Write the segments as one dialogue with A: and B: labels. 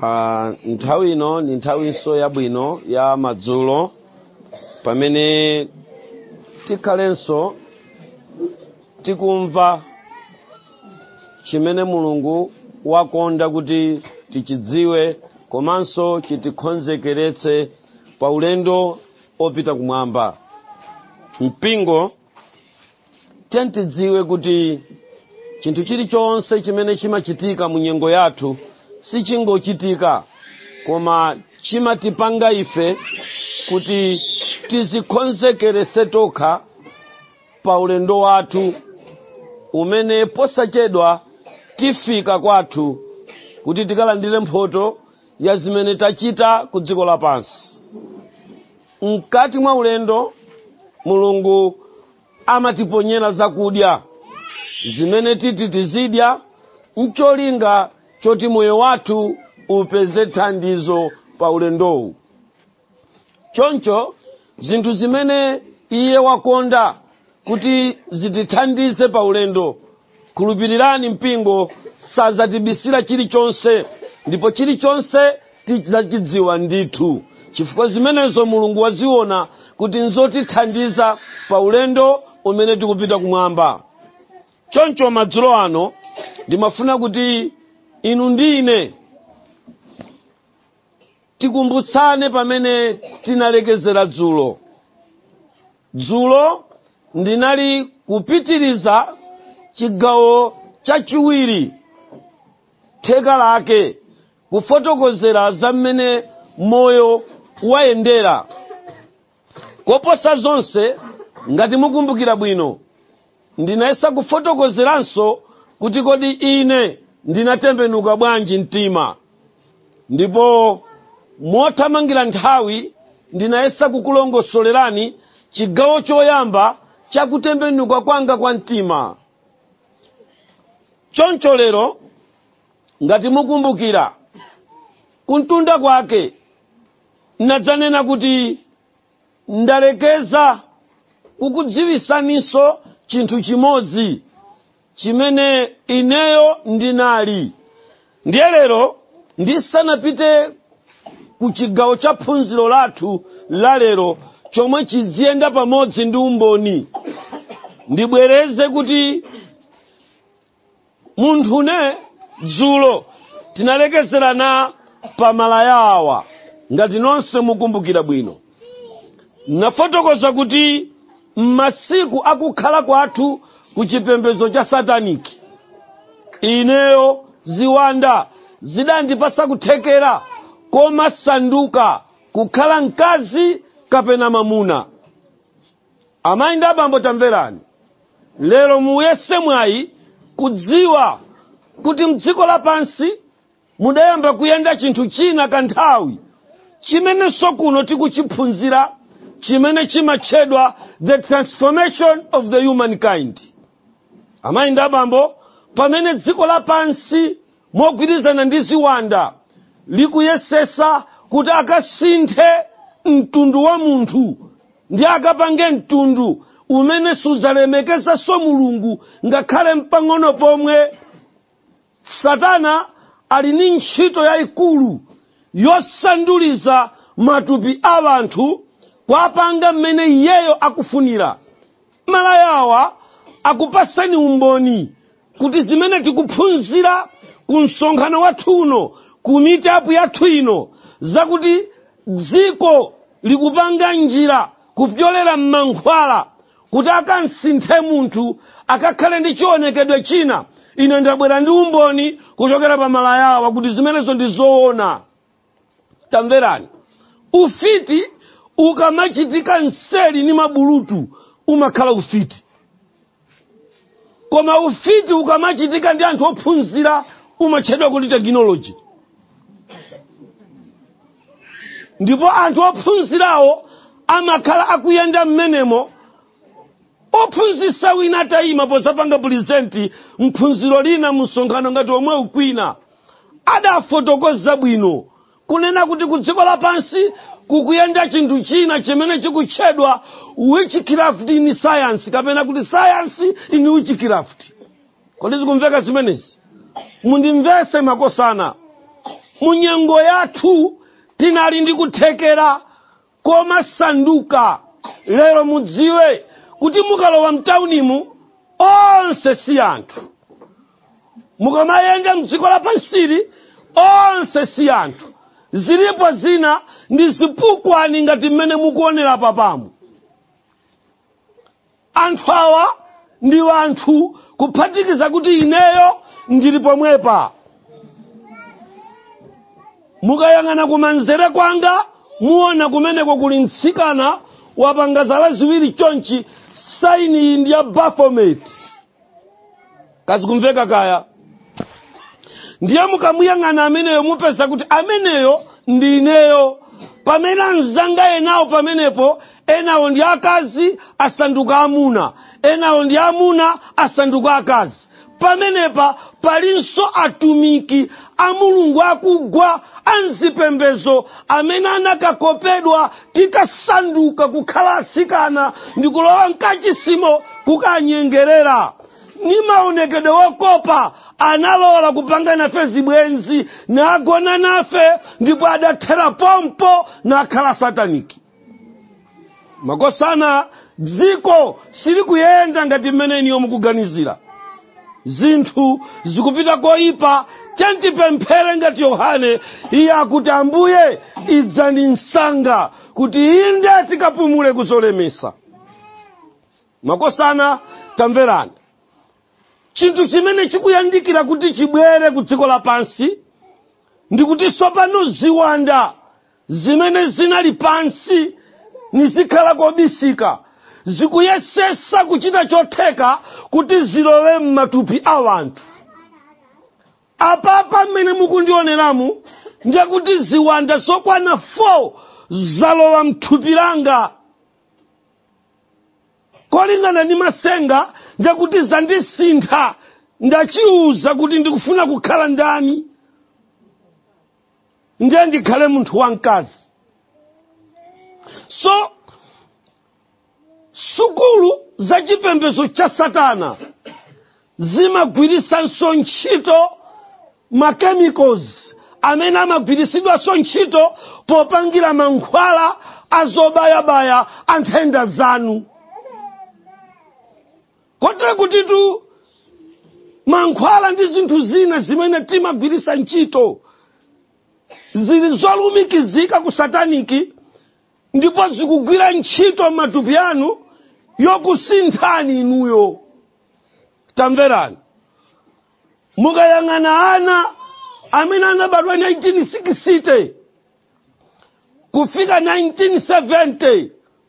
A: Ah, nthawi ino ndi nthawinso yabwino ya madzulo pamene tikhalenso tikumva chimene mulungu wakonda kuti tichidziwe komanso chitikonzekeretse pa ulendo opita kumwamba mpingo tiyeni tidziwe kuti chinthu chilichonse chimene chimachitika mu nyengo yathu sichingochitika koma chimatipanga ife kuti tizikonzekeretse tokha pa ulendo wathu umene posachedwa tifika kwathu kuti tikalandire mphoto ya zimene tachita ku dziko lapansi Mkati mwa ulendo, Mulungu amatiponyera zakudya zimene titi tizidya n'cholinga choti moyo wathu upeze thandizo pa ulendowu. Choncho zinthu zimene iye wakonda kuti zitithandize pa ulendo khulupirirani mpingo sazatibisira chilichonse ndipo chilichonse tizachidziwa ndithu chifukwa zimenezo mulungu waziona kuti nzotithandiza pa ulendo umene tikupita kumwamba choncho madzulo ano ndimafuna kuti inu ndi ine tikumbutsane pamene tinalekezera dzulo dzulo ndinali kupitiriza chigawo chachiwiri theka lake kufotokozera za mmene moyo wayendera koposa zonse ngati mukumbukira bwino ndinayesa kufotokozeranso kuti kodi ine ndinatembenuka bwanji mtima ndipo mothamangira nthawi ndinayesa kukulongosolerani chigawo choyamba cha kutembenuka kwanga kwa mtima choncho lero ngati mukumbukira kuntunda kwake nadzanena kuti ndalekeza kukudziwisaninso chinthu chimodzi chimene ineyo ndinali ndiye lero ndisanapite ku chigawo cha phunziro lathu la lero chomwe chidziyenda pamodzi ndi umboni ndibwereze kuti munthune dzulo tinalekezerana pa malaya awa ngati nonse mukumbukira bwino nafotokoza kuti m'masiku akukhala kwathu ku chipembedzo cha sataniki ineyo ziwanda zidandipasa kuthekera komasanduka kukhala mkazi kapena mamuna amayi ndi abambo tamverani lero muyese mwayi kudziwa kuti mdziko lapansi mudayamba kuyenda chinthu china kanthawi chimenenso kuno tikuchiphunzira chimene chimatchedwa the transformation of the humankind amayi ndi abambo pamene dziko lapansi mogwirizana ndi ziwanda likuyesesa kuti akasinthe mtundu wa munthu ndi akapange mtundu umene sudzalemekezanso mulungu ngakhale mpang'ono pomwe satana ali ndi ntchito yayikulu yosanduliza matupi a anthu kuwapanga mmene iyeyo akufunira malayawa akupatseni umboni kuti zimene tikuphunzira ku msonkhano wathu uno ku meetup yathu ino zakuti dziko likupanga njira kupyolera m'mankhwala kuti akansinthe munthu akakhale ndi chionekedwe china ine ndabwera ndi umboni kuchokera pa malayawa kuti zimenezo ndi zoona tamverani ufiti ukamachitika nseli ni mabulutu umakhala ufiti koma ufiti ukamachitika ndi anthu ophunzira umatchedwa kuti tekinoloji ndipo anthu ophunzirawo amakhala akuyenda mmenemo ophunzisa wina atayima pozapanga present mphunziro lina mu msonkhano ngati omwewu kwina adafotokoza bwino kunena kuti ku dziko lapansi kukuyenda chinthu china chimene chikutchedwa witchcraft in science kapena kuti science in witchcraft kodi zikumveka zimenezi mundimvese makosana munyengo yathu tinali ndi kuthekera komasanduka lero mudziwe kuti mukalowa mtaunimu onse si anthu mukamayenda mdziko lapansili onse si anthu zilipo zina ndi zipukwani ngati mmene mukuonera papamu anthu awa ndi anthu kuphatikiza kuti ineyo ndili pomwepa mukayang'ana kumanzere kwanga muona kumeneko kuli mtsikana wapanga zala ziwiri chonchi saini iyi ndi ya baphomet kaya zikumveka kaya ndiye mukamuyang'ana ameneyo mupeza kuti ameneyo ndi ineyo pamene anzanga enawo pamenepo enawo ndi akazi asanduka amuna enawo ndi amuna asanduka akazi pamenepa palinso atumiki a mulungu akugwa a m'zipembezo amene anakakopedwa tikasanduka kukhala asikana ndi kulowa mkachisimo kukanyengerera ni maonekedwe wokopa analola kupanga nafe zibwenzi nagona nafe ndipo adathera pompo nakhala sataniki makosana dziko silikuyenda ngati mmene inuyo mukuganizira zinthu zikupita koyipa tatipemphere ngati yohane iye akuti ambuye idzani msanga kuti inde tikapumule kuzolemesa makosana tamverani chinthu chimene chikuyandikira kuti chibwere ku dziko lapansi ndi kuti sopano ziwanda zimene zinali pansi nizikhala kobisika zikuyesesa kuchita chotheka kuti zilowe m'matupi a wanthu apapa mmene mukundioneramu ndiye kuti ziwanda zokwana 4 zalowa mthupi langa kolingana ndi masenga ndiye kuti zandisintha ndachiuza kuti ndikufuna kukhala ndani ndiye ndikhale munthu wamkazi so sukulu za chipembedzo cha satana zimagwirisanso ntchito machemicals amene amagwirisidwanso ntchito popangira mankhwala azobayabaya a nthenda zanu kotero kutitu mankhwala ndi zinthu zina zimene timagwirisa ntchito zili zolumikizika ku sataniki ndipo zikugwira ntchito m'matupi anu yokusinthani inuyo tamverani mukayang'ana ana amene anabadwa 1960 kufika 1970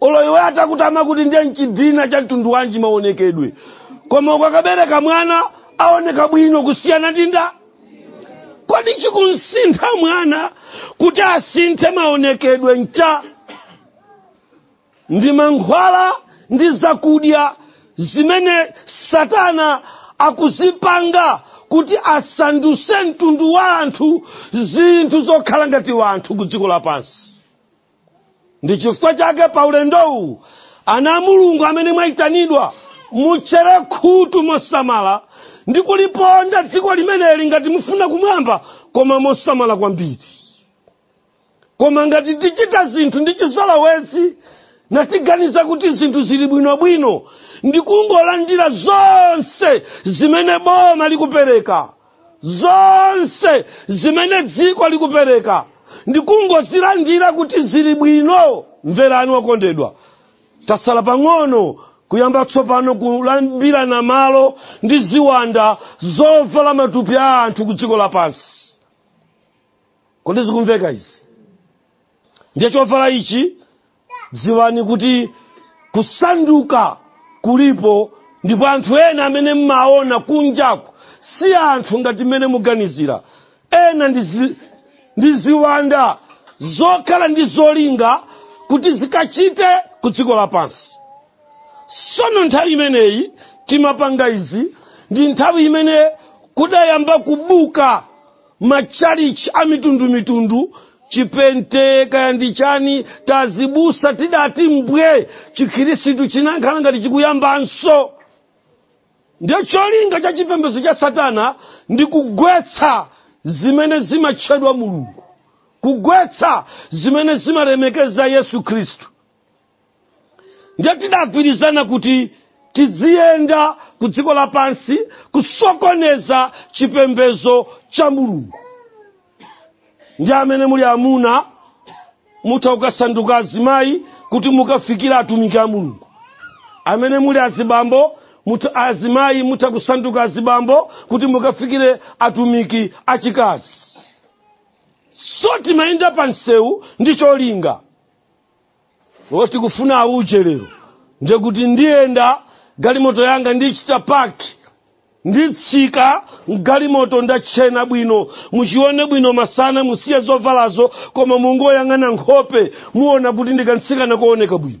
A: olo iwe atakutama kuti ndiye nchidina cha mtundu wanji maonekedwe koma ukakabereka mwana aoneka bwino kusiyana ndi nda kodi chikumsintha mwana kuti asinthe maonekedwe ncha ndi mankhwala ndi zakudya zimene satana akuzipanga kuti asanduse mtundu wa anthu zinthu zokhala ngati wanthu ku dziko lapansi ndi chifukwa chake pa ulendowu ana a mulungu amene mwayitanidwa mutchere khutu mosamala ndi kuliponda dziko limeneli ngati mufuna kumwamba koma mosamala kwambiri koma ngati tichita zinthu ndi chizolowezi natiganiza kuti zinthu zili bwinobwino ndi kungolandira zonse zimene boma likupereka zonse zimene dziko likupereka ndikungozilandira kuti zili bwino mverani okondedwa tasala pang'ono kuyamba tsopano kulambirana malo ndi ziwanda zovala matupi a anthu ku dziko lapansi kodi zikumveka izi ndiye chovala ichi Dziwani kuti kusanduka kulipo ndipo anthu ena amene mmaona kunjaku si anthu ngati mmene muganizira. Ena ndi ziwanda zokhala ndi zolinga kuti zikachite ku dziko lapansi. Sono nthawi imeneyi timapanga izi ndi nthawi imene kudayamba kubuka matchalichi a mitundumitundu chipente kaya ndi chani tazibusa tidati mbwe chikhirisitu chinakhala ngati chikuyambanso ndiye cholinga cha chipembedzo cha satana ndi kugwetsa zimene zimatchedwa mulungu kugwetsa zimene zimalemekeza yesu khristu ndiye tidagwirizana kuti tidziyenda ku dziko lapansi kusokoneza chipembedzo cha mulungu ndi amene muli amuna mutha kukasanduka azimayi kuti mukafikire atumiki a mulungu amene muli azibambo azimayi mutha kusanduka azibambo kuti mukafikire atumiki achikazi so timayenda pa msewu ndi cholinga woti kufuna auje lero ndiye kuti ndiyenda galimoto yanga ndichita paki nditsika mgalimoto ndatchena bwino muchione bwino masana musiye zovalazo koma mungoyang'ana nkhope muona kuti ndikamtsikana kooneka bwino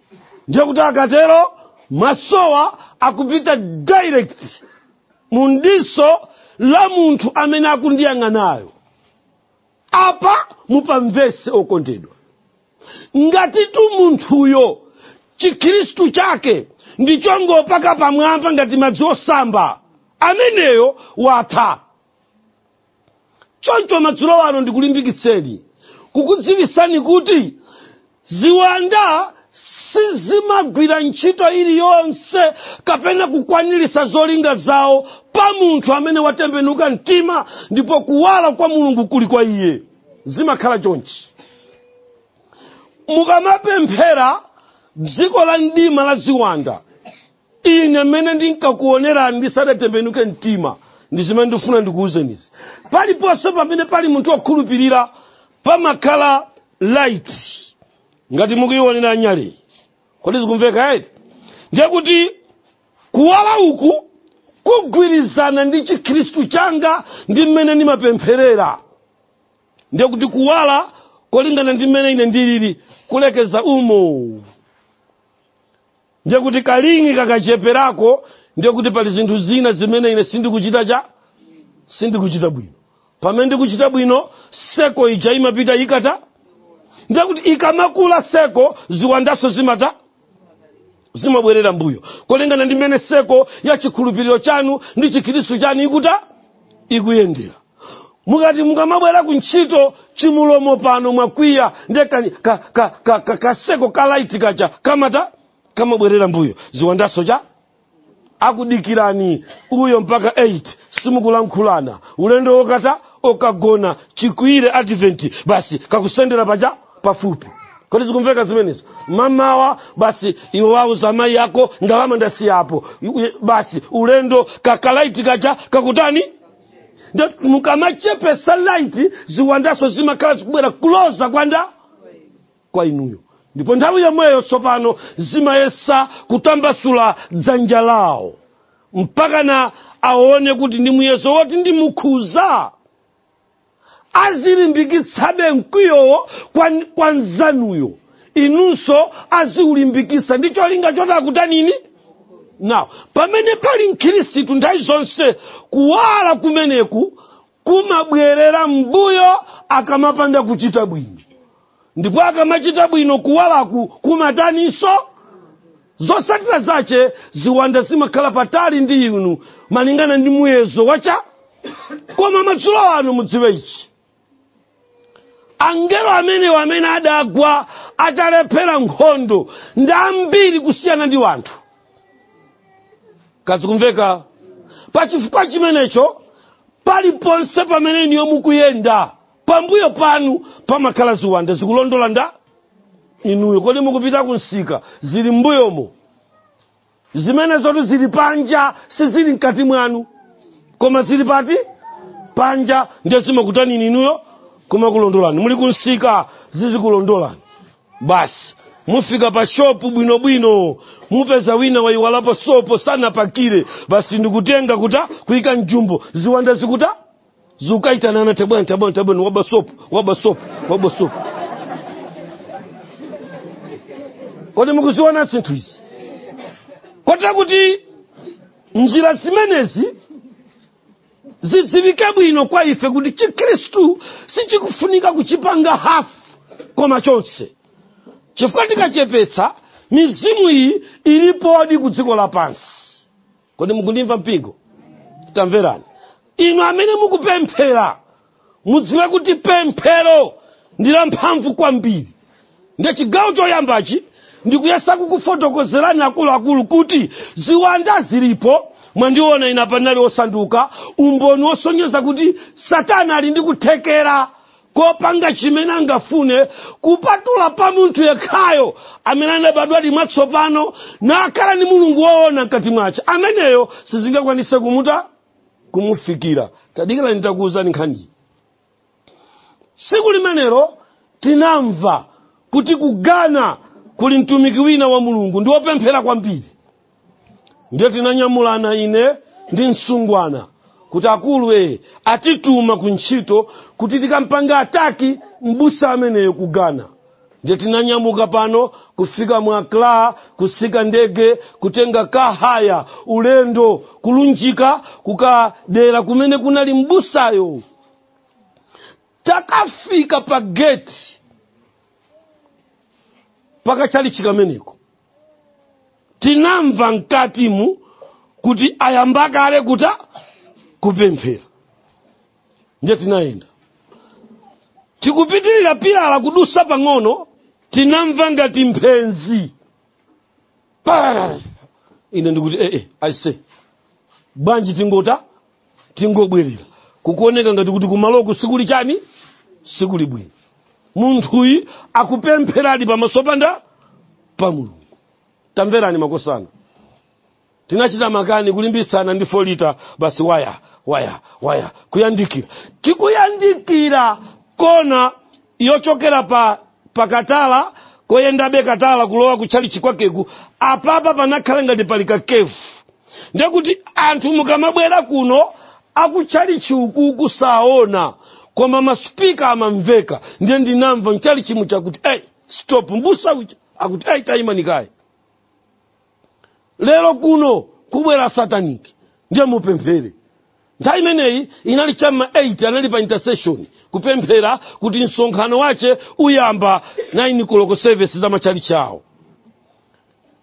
A: ndiye kuti akatero masowa akupita direct mu diso la munthu amene akundiyang'anayo apa mupamvese okondedwa ngatitu munthuyo chikhristu chake ndichongopaka pamwamba ngati madzi osamba ameneyo watha choncho madzulo ano ndikulimbikitseni kukudziwisani kuti ziwanda sizimagwira ntchito iliyonse kapena kukwanirisa zolinga zawo pa munthu amene watembenuka mtima ndipo kuwala kwa mulungu kuli kwa iye zimakhala chonchi mukamapemphera dziko la mdima la ziwanda ine mmene ndinkakuonera ndisadatembenuke mtima ndi zimene ndifuna ndikuwuzenizi paliponse pamene pali munthu wokhulupirira pamakhala light ngati mukuionera nyaleyi kodi zikumveka eti ndiye kuti kuwala uku kugwirizana ndi chikhristu changa ndi mmene ndimapempherera ndiye kuti kuwala kolingana ndi mmene ine ndilili kulekeza umo ndiye kuti kalingi kakacheperako ndiye kuti pali zinthu zina zimene ine sindikuchita cha sindikuchita bwino pamene ndikuchita bwino seko ija imapita ikuta ndiye kuti ikamakula seko ziwandazo zimata zimabwerera mbuyo kolingana ndi mmene seko ya chikhulupiriro chanu ndi chikhristu chanu ikuta ikuyendera mukati mukamabwera ku ntchito chimulomo pano mwakwiya nde ka- ka- ka- ka- ka- kaseko ka laiti kaja kamata kamabwerera mbuyo ziwandazo cha akudikirani uyo mpaka 8 simukulankhulana ulendo wokata wokagona chikwire adventi basi kakusendera paja pafupi kodi zikumveka zimenezi mamawa basi iwe uwauza amayi yako ndalama ndasiyapo basi ulendo kakalaiti kaja kakutani ndiye mukamachepesa light ziwandazo zimakhala zikubwera closer kwa nda kwa inuyo ndipo nthawi yomweyo tsopano zimayesa kutambasula dzanja lawo mpakana aone kuti ndi muyezo woti ndimukhuza azilimbikitsabe mkwiyowo kwa, kwa nzanuyo inunso aziulimbikitsa ndi cholinga choti akutanini now pamene pali mkhristu nthawi zonse kuwala kumeneku kumabwerera mbuyo akamapanda kuchita bwino ndipo akamachita bwino kuwalaku kumataninso zotsatira zache ziwanda zimakhala patali ndi inu malingana ndi muyezo wa cha koma madzulo ano mudziwe ichi angelo amenewo amene adagwa atalephera nkhondo ndi ambiri kusiyana ndi wanthu kazikumveka pa chifukwa chimenecho paliponse pamene inuyo mukuyenda pambuyo panu pamakhala ziwanda zikulondola nda inuyo kodi mukupita ku msika zili mbuyomo zimenezotu zili panja sizili mkati mwanu koma zili pati panja ndiye zimakutanini inuyo kumakulondolani muli kumsika zizikulondolani basi mufika pa shopu bwinobwino mupeza wina wayiwalapo sopo sanapakire basi ndikutenga kuta kuika mjumbo ziwanda zikuta zikuitanana tabwerani tabwerani tabwerani waba sopo waba sopo waba sopo kodi mukuziona zinthu izi kotera kuti njira zimenezi zidziwike bwino kwa ife kuti chikhristu sichikufunika kuchipanga hafu koma chonse chifukwa tikachepetsa mizimu iyi ilipodi ku dziko lapansi kodi mukundimva mpingo tamverani inu amene mukupemphera mudziwe kuti pemphero ndi lamphamvu kwambiri ndiye chigawo choyambachi ndikuyesa kukufotokozerani akuluakulu kuti ziwanda zilipo mwandiona ina panali osanduka umboni wosonyeza kuti satana ali ndi kuthekera kopanga chimene angafune kupatula pa munthu yekhayo amene anabadwadi mwatsopano nakhala ndi mulungu woona mkati mwache ameneyo sizingakwanitse kumuta kumufikira tadikirani takuwuzani nkhani tsiku limenelo tinamva kuti ku ghana kuli mtumiki wina wa mulungu ndi wopemphera kwambiri ndiye tinanyamulana ine ndi msungwana kuti akuluwo atituma ku ntchito kuti tikampange attack mbusa ameneyo ku ghana ndiye tinanyamuka pano kufika mu accra kutsika ndege kutenga kahaya ulendo kulunjika kukadera kumene kunali mbusayo takafika pa geti pa katchalitchi kameneko tinamva mkatimu kuti ayamba kale kuta kupemphera ndiye tinayenda tikupitirira pilala kudutsa pang'ono tinamva ngati mphenzi Pararara. ine ndikuti ee eh, eh, aise bwanji tingota tingobwerera kukuoneka ngati kuti kumaloku sikuli chani sikuli bwino munthuyu akupempheradi pamaso pa nda pa mulungu tamverani makosana tinachita makani kulimbitsana ndi 4 lita basi waya waya waya kuyandikira tikuyandikira kona yochokera pa pakatala koyendabe katala kulowa kutchalichi kwakeku apapa panakhala ngati pali kakefu ndekuti anthu mukamabwera kuno akutchalichi ukuku saona koma masipika amamveka ndiye ndinamva mchalichi muchakuti hey, stop mbusa uja akuti ayi tayimani kaye lero kuno kubwera sataniki ndiye mupemphere nthawi imeneyi inali cha m'ma 8 anali pa intercession kupemphera kuti msonkhano wache uyamba 9 koloko service za matchalitchi awo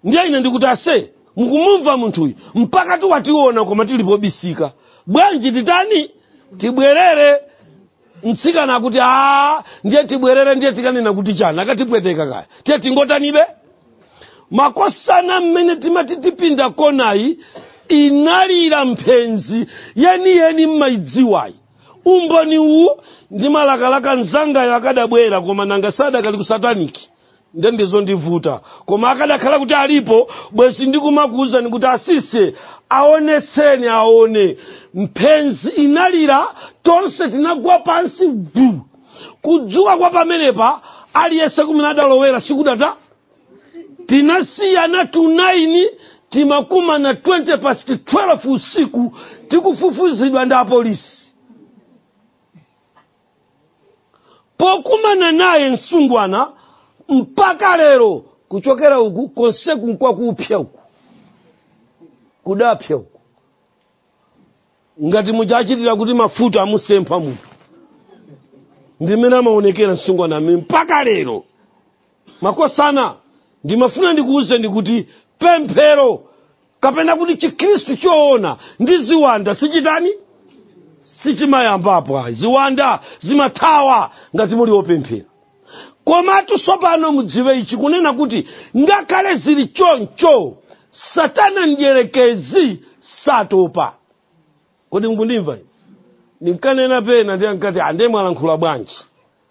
A: ndiye ine ndikuti ase mukumumva munthuyu mpaka tiwationa koma tili pobisika bwanji titani tibwerere mtsikana akuti a ndiye tibwerere ndiye tikanena kuti chani akatipweteka kaya tiye tingotanibe makosana mmene timati tipinda konayi inalira mphenzi yeniyeni mumayidziwayi umboni uwu ndimalakalaka mnzangayo akadabwera koma nanga sadakali ku sataniki nde ndizondivuta koma akadakhala kuti alipo bwezi ndikumakuwuzani kuti asise aonetseni aone mphenzi inalira tonse tinagwa pansi vu kudzuka kwa pamenepa aliyense kumene adalowera sikudata tinasiyana 9 timakumana 20 past 12 usiku tikufufuzidwa ndi apolisi pokumana naye msungwana mpaka lero kuchokera uku konseku nkwakupsya uku kudapsya uku ngati muja achitira kuti mafuta amusempha munthu ndi mmene amaonekera msungwana amene mpaka lero makosana ndimafuna ndikuwuzeni kuti pemphero kapena kuti chikhristu choona ndi ziwanda sichitani sichimayambapo ayi ziwanda zimathawa ngati muli opemphera komatu tsopano mudziwe ichi kunena kuti ngakhale zili choncho satana mdyerekezi satopa kodi mukundimva ndinkanena pena ndiye ankati ande mwalankhula bwanji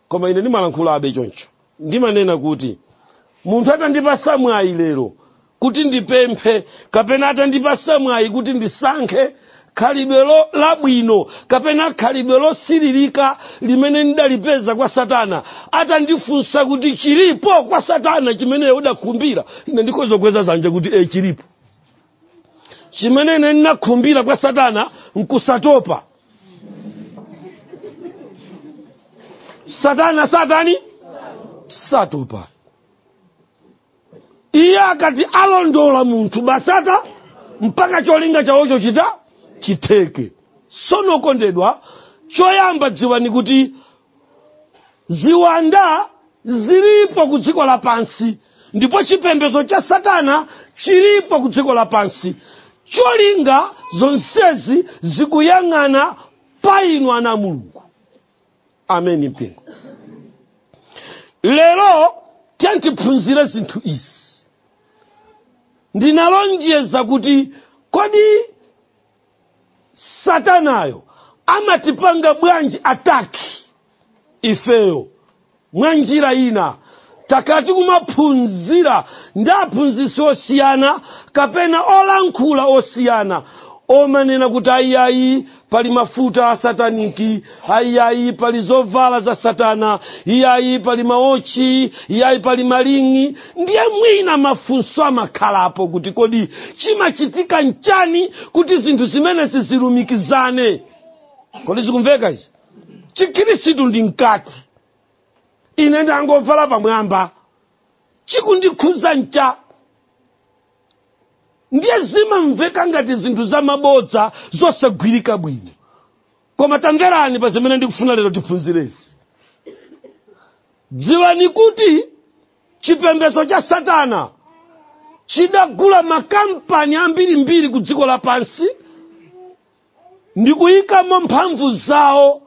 A: koma ine ndimalankhula abe choncho ndimanena kuti munthu atandipatsa mwayi lero kuti ndipemphe kapena atandipatsa mwayi kuti ndisankhe khalidwe lo- labwino kapena khalidwe losiririka limene ndidalipeza kwa satana atandifunsa kuti chilipo kwa satana chimene udakhumbira ine ndikhoza kukweza zanja kuti e chilipo chimene ine ndinakhumbira kwa satana nkusatopa satana satani satopa iye akati alondola munthu basata mpaka cholinga chawocho chita chitheke sono okondedwa choyamba dziwani kuti ziwanda zilipo ku dziko lapansi ndipo chipembedzo cha satana chilipo ku dziko lapansi cholinga zonsezi zikuyang'ana pa inu ana a mulungu ameni mpingo lero tiphunzire zinthu izi ndinalonjeza kuti kodi satanayo amatipanga bwanji ataki ifeyo mwa njira ina takhala tikumaphunzira ndi aphunzitsi osiyana kapena olankhula osiyana omanena kuti ayiayi pali mafuta asataniki iyayi pali zovala za satana iyayi pali mawotchi iyayi pali maling'i ndiye mwina mafunso amakhalapo kuti kodi chimachitika nchani kuti zinthu zimenezi zilumikizane kodi zikumveka izi chikhristu ndi mkati ine ndangovala pamwamba chikundikhuza ncha ndiye zimamveka ngati zinthu zamabodza zosagwirika bwino koma tamverani pa zimene ndikufuna lero tiphunzirezi dziwani kuti chipembedzo cha satana chidagula makampani ambirimbiri ku dziko lapansi ndikuyikamo mphamvu zawo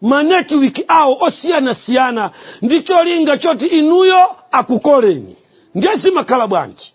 A: manetiwiki awo osiyanasiyana ndi cholinga choti inuyo akukoleni ndiye zimakhala bwanji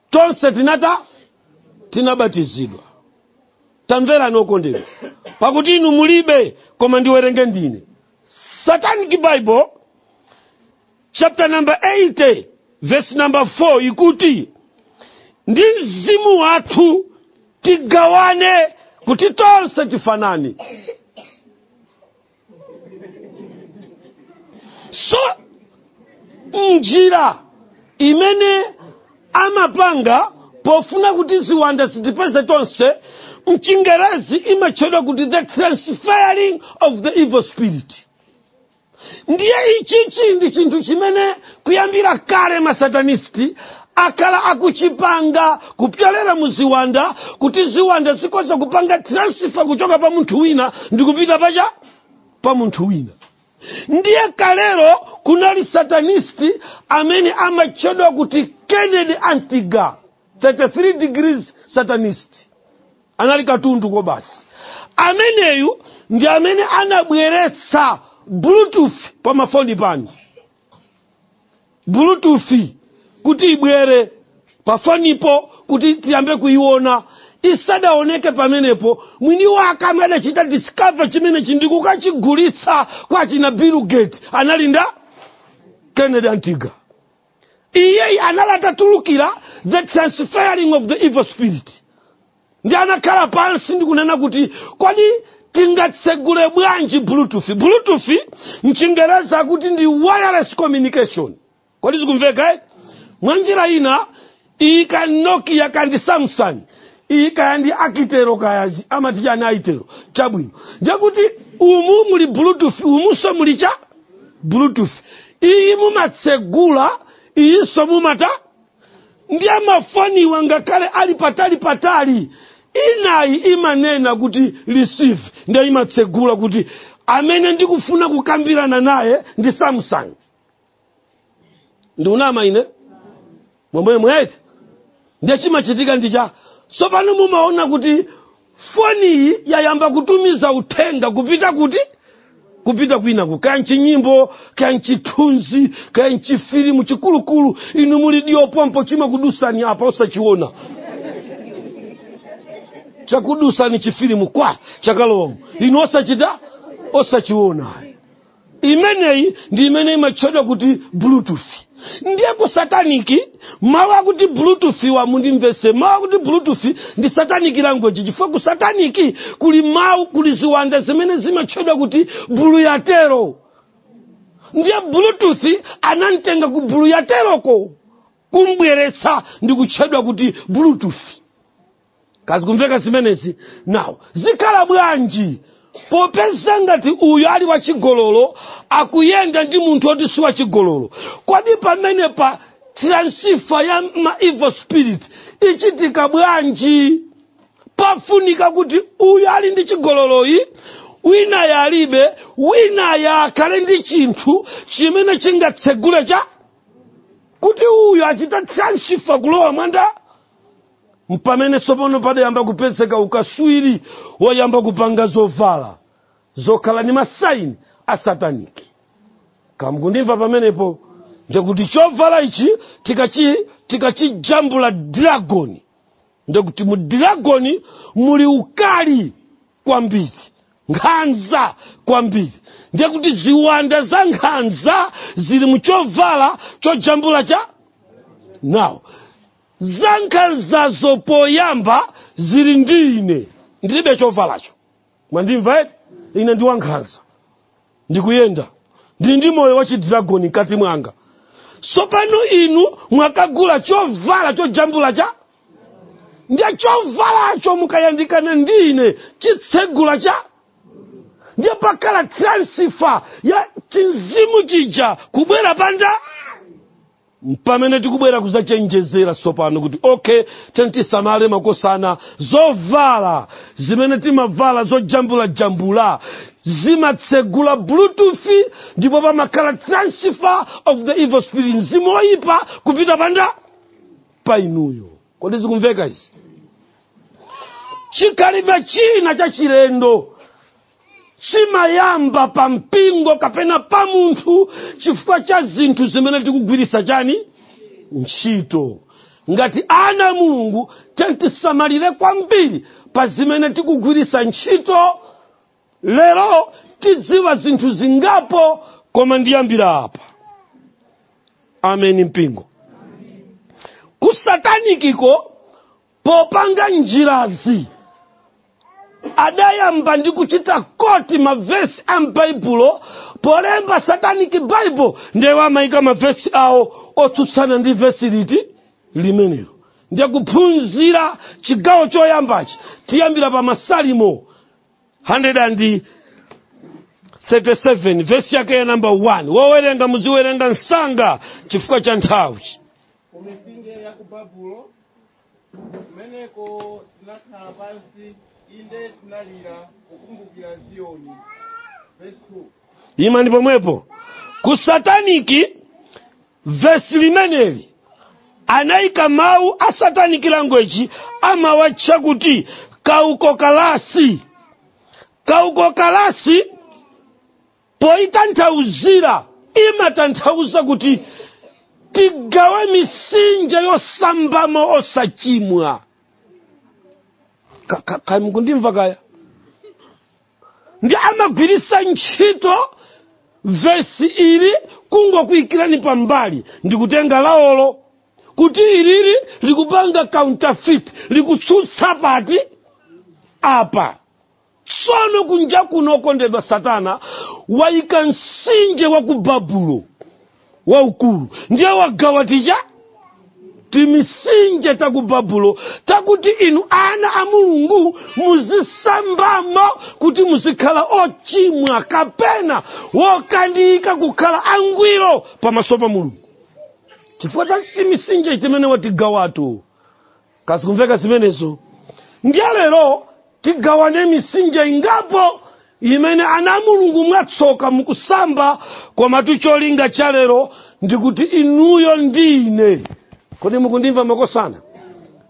A: tonse tinata tinabatizidwa tamverani okondedwa pakuti inu mulibe koma ndiwerenge ndine satanic bible chapter number 80 verse number 4 ikuti ndi mzimu wathu tigawane kuti tonse tifanane so njira imene amapanga pofuna kuti ziwanda zitipeze tonse mchingerezi imatchedwa kuti the transferring of the evil spirit ndiye ichichi ndi chinthu chimene kuyambira kale masatanisti akhala akuchipanga kupyolera mu ziwanda kuti ziwanda zikoza kupanga transifa kuchoka pa munthu wina ndi kupita pa cha pa munthu wina ndiye kalero kunali satanisti amene amatchedwa kuti kennedy antiga 33 degrees satanist anali katundu kobasi ameneyu ndi amene anabweretsa bluetooth pa mafoni pano bluetooth kuti ibwere pa fonipo kuti tiyambe kuyiona isadaoneke pamenepo mwini wake amene adachita discover chimenechi ndi kukachigulitsa kwa achina bill gates anali ndi kennedy antiga iyeyi anali atatulukira the transferring of the evil spirit ndi anakhala pansi ndi kunena kuti kodi tingatsegule bwanji bluetooth bluetooth mchingereza akuti ndi wireless communication kodi zikumveka eh? mwa njira ina iyi kaya nokia kaya ndi samsung iyi kaya ndi akitero kaya zi- amati chani itel chabwino ndekuti umu muli bluetooth umunso muli cha bluetooth iyi mumatsegula iyinso mumata ndiye mafoniwa ngakhale ali patali patali inayi imanena kuti receive ndiye imatsegula kuti amene ndikufuna kukambirana naye ndi samsung ndikunama ine mwemwemwe eti ndiye chimachitika ndi cha tsopano mumaona kuti foniyi yayamba kutumiza uthenga kupita kuti kupita kwinaku kaya mchinyimbo kaya mchithunzi kaya mchifilimu chikulukulu inu muli duu pompo chimakudutsani apa osachiona chakudutsani chifilimu kwa chakalowamu inu osachita osachiona imeneyi ndi imene imatchedwa kuti bluetooth ndiye ku sataniki mawu akuti bluetooth wa mundimvese mawu akuti bluetooth ndi satanic language chifukwa ku sataniki kuli mawu kuli ziwanda zimene zimatchedwa kuti buluyatero ndiye bluetooth anamtenga ku buluyateroko kumbweretsa ndi kutchedwa kuti bluetooth kaya zikumveka zimenezi now zikhala bwanji popeza ngati uyu ali wachigololo akuyenda ndi munthu oti si wachigololo kodi pamenepa transifa ya ma evil spirit ichitika bwanji pafunika kuti uyu ali ndi chigololoyi winayu alibe winayu akhale ndi chinthu chimene chingatsegule cha kuti uyu achita transifa kulowa mwa nda mpamene tsopano padayamba kupezeka ukaswiri wayamba kupanga zovala zokhala ndi masaini a sataniki kaya mukundimva pamenepo ndiye kuti chovala ichi tikachijambula dragoni ndiye kuti mu dragoni muli ukali kwambiri nkhanza kwambiri ndiye kuti ziwanda za nkhanza zili muchovala chojambula chani now zankhanzazo poyamba zili ndi ine ndilibe chovalacho mwandimva eti ine ndine wankhanza ndikuyenda ndili ndi moyo wa chidragoni mkati mwanga sopano inu mwakagula chovala chojambula chani ndiye chovalacho mukayandikana ndi ine chitsegula chani ndiye pakhala transifa ya chimzimu chija kubwera pa ndani mpamene tikubwera kuzachenjezera tsopano kuti okay tiyeni tisamale makosana zovala zimene timavala zojambulajambula zimatsegula bluetooth ndipo pamakhala transfer of the evil spirit mzimu oyipa kupita pa ndani pa inuyo kodi zikumveka izi chikhalidwe china chachilendo chimayamba pa mpingo kapena pa munthu chifukwa cha zinthu zimene tikugwiritsa chani ntchito ngati ana a mulungu tiyeni tisamalire kwambiri pa zimene tikugwiritsa ntchito lero tidziwa zinthu zingapo koma ndiyambira apa ameni mpingo kusatanikiko Popanga njirazi, adayamba ndi kuchita koti mavesi a m'Baibulo polemba Satanic Bible ndiye amayika mavesi awo otsutsana ndi vesi liti limenelo ndiye kuphunzira chigawo choyambachi tiyambira pa masalimo 137 vesi yake ya namba 1 wowerenga muziwerenga msanga chifukwa cha nthawi ku
B: mitsinje ya ku babulo kumeneko tinakhala pansi inde tinalira kukumbukira ziyoni verse 2 imani pomwepo
A: ku sataniki vesi limeneli anayika mawu a sataniki language amawatcha kuti kauko kalasi kauko kalasi poitanthauzira imatanthauza kuti tigawe misinja yosambamo osachimwa kamukundimva kaya ndi amagwiritsa ntchito vesi ili kungokuikirani pambali ndikutenga laolo kuti ilili likupanga counterfeit likutsutsa pati apa tsono kunja kuno okondedwa satana waika msinje wa ku babulo waukulu ndiye wagawa tija timisinje ta ku babulo takuti inu ana a mulungu muzisambamo kuti muzikhala ochimwa kapena wokanika kukhala angwiro pamaso pa mulungu chifukwa cha timisinje timene watigawato kazikumveka zimenezo ndiye lero tigawane misinje ingapo imene ana a mulungu mwatsoka mukusamba komatu cholinga cha lero ndikuti inuyo ndi ine kodi mukundimva makosana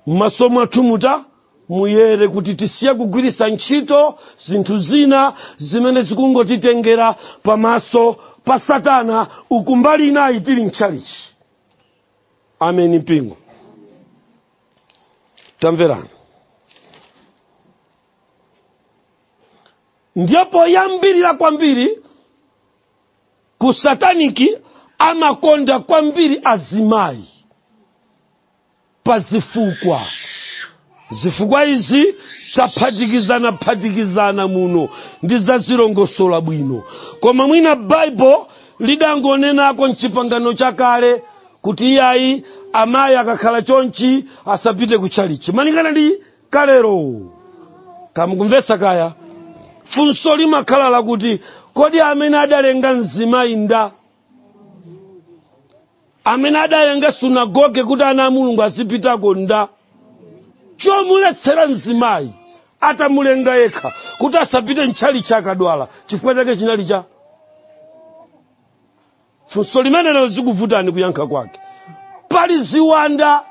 A: m'maso mwathu mutamayera kuti tisiye kugwiritsa ntchito zinthu zina zimene zikungotitengera pamaso pa satana uku mbali inayi tili mtchalichi ameni mpingo tamverana ndiye poyambirira kwambiri ku sataniki amakonda kwambiri azimayi pa zifukwa zifukwa izi taphatikizana phatikizana muno ndidzazilongosola bwino koma mwina baibulo lidangonenako mchipangano chakale kuti iyayi amayi akakhala chonchi asapite ku tchalichi malingana ndi kalero kamukumvetsa kaya funso limakhala lakuti kodi amene adalenga mzimayi nda amene adalenga sunagoge kuti ana a mulungu azipitako nda chomuletsera mzimayi atamulenga yekha kuti asapite mtchalichi akadwala chifukwa chake chinali cha funso limenelo likuvutani kuyankha kwake pali ziwanda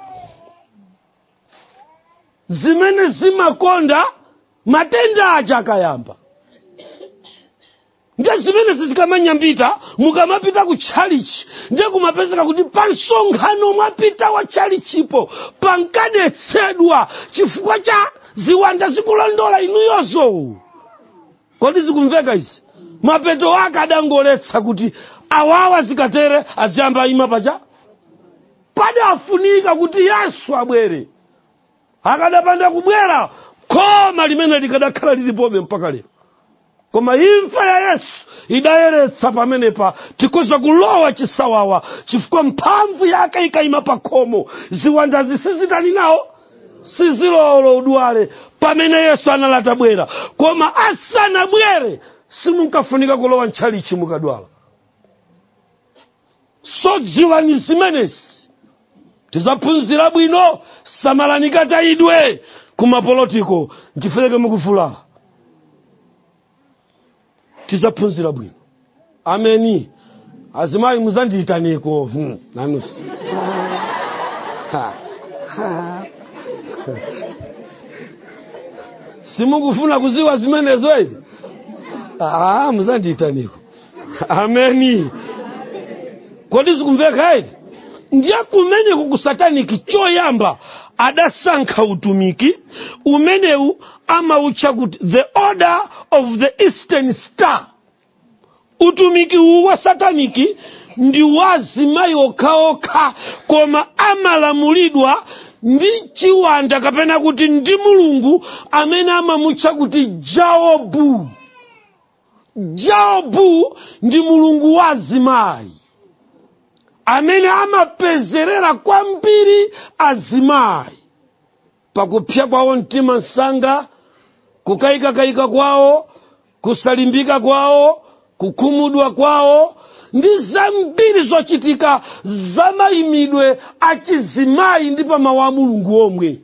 A: zimene zimakonda matenda aja akayamba nde zimenezi zikamanyambita mukamapita ku tchalichi nde kumapezeka kuti pa msonkhano mwapita wa tchalichipo pankadetsedwa chifukwa cha ziwanda zikulondola inuyozo kodi zikumveka izi mapeto ake adangoletsa kuti awawa zikatere aziyamba aima paja padafunika kuti yesu abwere akadapanda kubwera khoma limene likadakhala lilipobe mpaka lero koma imfa ya yesu idayeretsa pamenepa tikhoza kulowa chisawawa chifukwa mphamvu yake ikayima pa khomo ziwanda zi sizitani nawo sizilowa olo udwale pamene yesu anali atabwera koma asanabwere simunkafunika kulowa ntchalichi mukadwala so dziwani zimenezi tizaphunzira bwino samalani katayidwe kumapolotiko ndifereke mukufula tizaphunzira bwino ameni azimayi muzandiyitaneko hmm, nanunso Ha, ha. simukufuna kuziwa zimenezo ine Ah, muzandiyitaneko ameni kodi zikumveka ivi ndiye kumeneku ku sataniki choyamba adasankha utumiki umenewu amautcha kuti the order of the eastern star utumiki uwu wa sataniki ndi wazimayi okhaokha koma amalamulidwa ndi chiwanda kapena kuti ndi mulungu amene amamutcha kuti jaobu jaobu ndi mulungu wa azimayi amene amapezerera kwambiri azimayi pakupsya kwawo mtima msanga kukayikakayika kwawo kusalimbika kwawo kukhumudwa kwawo ndi zambiri zochitika zamayimidwe achizimayi ndi pamawu a mulungu omwe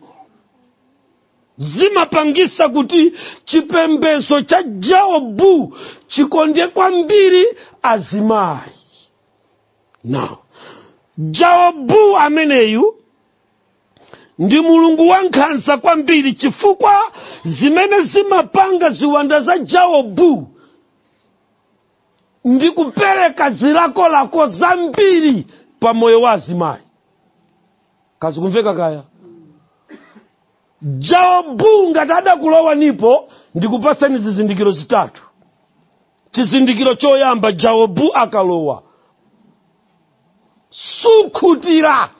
A: zimapangisa kuti chipembezo cha jaobu chikonde kwambiri azimayi now jaobu ameneyu ndi mulungu wankhanza kwambiri chifukwa zimene zimapanga ziwanda za jaobu ndi kupereka zilakolako zambiri pa moyo wa azimayi ngati zikumveka kaya jaobu ngati adakulowanipo ndikupasani zizindikiro zitatu chizindikiro choyamba jaobu akalowa sukhutira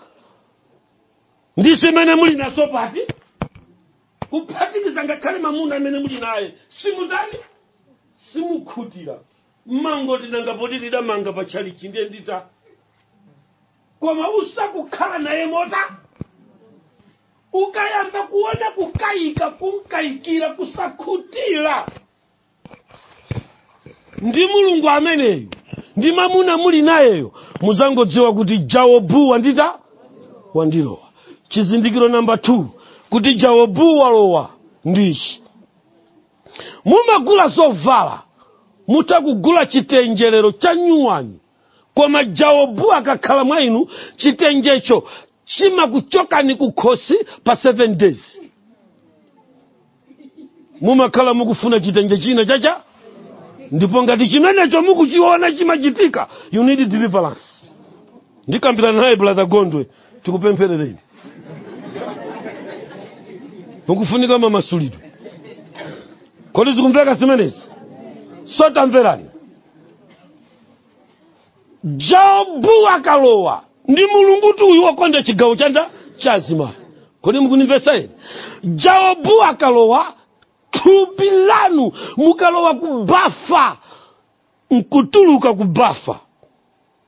A: ndi zimene muli nazo pati kuphatikiza ngakhale mamuna amene muli naye simutani simukhutira mmangoti nanga poti tidamanga pa tchalichi ndiye ndita koma usakukhala naye mota ukayamba kuona kukayika kunkayikira kusakhutira ndi mulungu ameneyu ndi mamuna muli nayeyo muzangodziwa kuti jaobu wanditha wandilowa chizindikiro namba 2 kuti jaobu walowa ndichi mumagula zovala mutha kugula chitenje lero cha nyuwani koma jaobu akakhala mwa inu chitenjecho chimakuchokani kukhosi pa 7 days mumakhala mukufuna chitenje china chacha ndipo ngati chimenecho mukuchiona chimachitika you need deliverance ndikambirana naye brother gondwe tikupempherereni mukufunika mamasulidwe kodi zikumveka zimenezi so tamverani jaobu akalowa ndi mulungutu uyu wakonda chigawo chanda cha azimayi kodi mukunimvesa ine jaobu akalowa thupi lanu mukalowa kubafa nkutuluka kubafa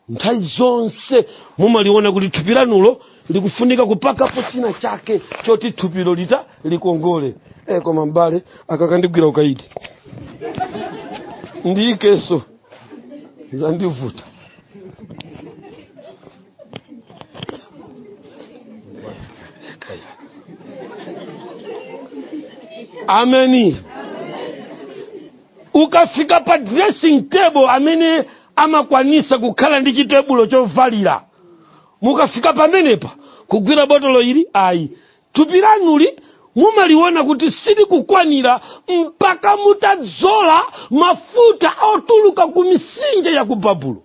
A: nthawi zonse mumaliona kuti thupi lanulo likufunika kupakapo china chake choti thupilo lita likongole e, koma mbale aka kandigwira ukaidi ndiikenso zandivuta ameni ukafika pa dressing table amene amakwanisa kukhala ndi chitebulo chovalira mukafika pamenepa kugwira botolo ili ayi thupi lanuli mumaliona kuti silikukwanira mpaka mutadzola mafuta otuluka ku mitsinje ya ku babulo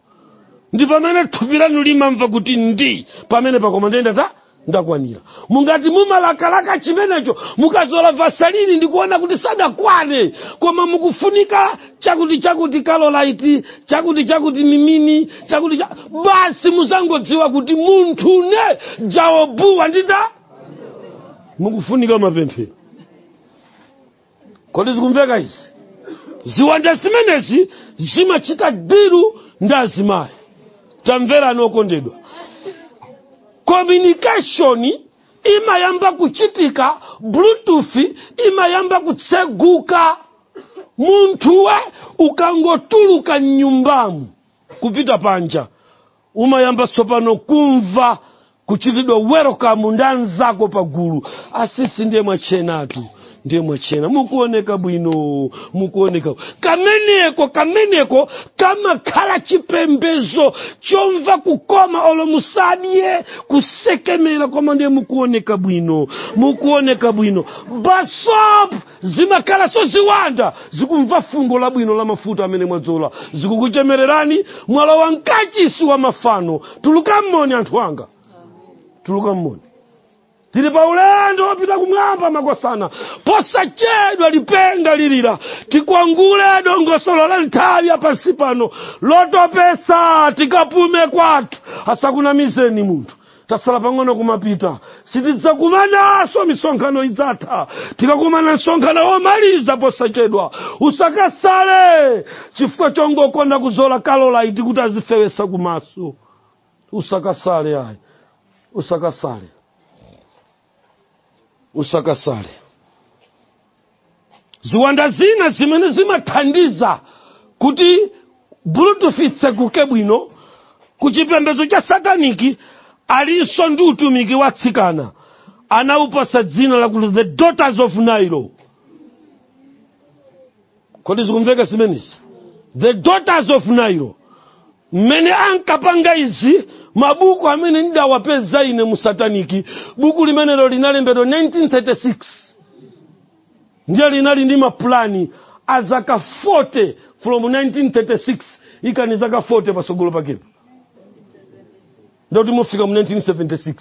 A: ndi pamene thupi lanu limamva kuti ndi pamenepa koma nde nda ndakwanira mungati mumalakalaka chimenecho mukazola vasalini ndikuona kuti sadakwane koma mukufunika chakuti chakuti kalolaiti chakuti chakuti mimini chakuti cha... basi muzangodziwa kuti munthune jaobu wanditha mukufunika mapemphero kodi zikumveka izi ziwanda zimenezi zimachita diru ndi azimayi tamverani okondedwa communication imayamba kuchitika bluetooth imayamba kutseguka munthuwe ukangotuluka mnyumbamu kupita panja umayamba tsopano kumva kuchitidwa welcome ndi anzako pagulu asisi ndiye mwachenatu ndiye mwachena mukuoneka bwino mukuoneka kameneko kameneko kamakhala chipembezo chomva kukoma olo musadye kusekemera koma ndiye mukuoneka bwino mukuoneka bwino basop zimakhalanso ziwanda zikumva fungo labwino la mafuta amene mwadzola zikukuchemererani mwalowa mkachisi wa mafano tuluka mmoni anthu anga tuluka mmoni tili pa ulendo wopita kumwamba makosana posachedwa lipenga lilira tikwangule dongosolo la nthawi ya pansi pano lotopesa tikapume kwathu asakunamizeni munthu tasala pang'ono kumapita sitidzakumananso misonkhano idzatha tikakumana msonkhano womaliza posachedwa usakasale chifukwa chongokonda kuzola kalolaiti kuti azifewesa kumaso usakasale ayi usakasale usakasale ziwanda zina zimene zimathandiza kuti bluetooth itseguke bwino ku chipembedzo cha sataniki alinso ndi utumiki wa atsikana anawupasa dzina lakuti the daughters of nile kodi zikumveka zimenezi the daughters of nile mmene ankapanga izi mabuku amene ndawapeza ine mu sataniki buku limenelo linalembedwa 1936 ndiye linali ndi mapulani a zaka 40 from 1936 ikani zaka 40 pasogolo pakepo ndoti mufika mu 1976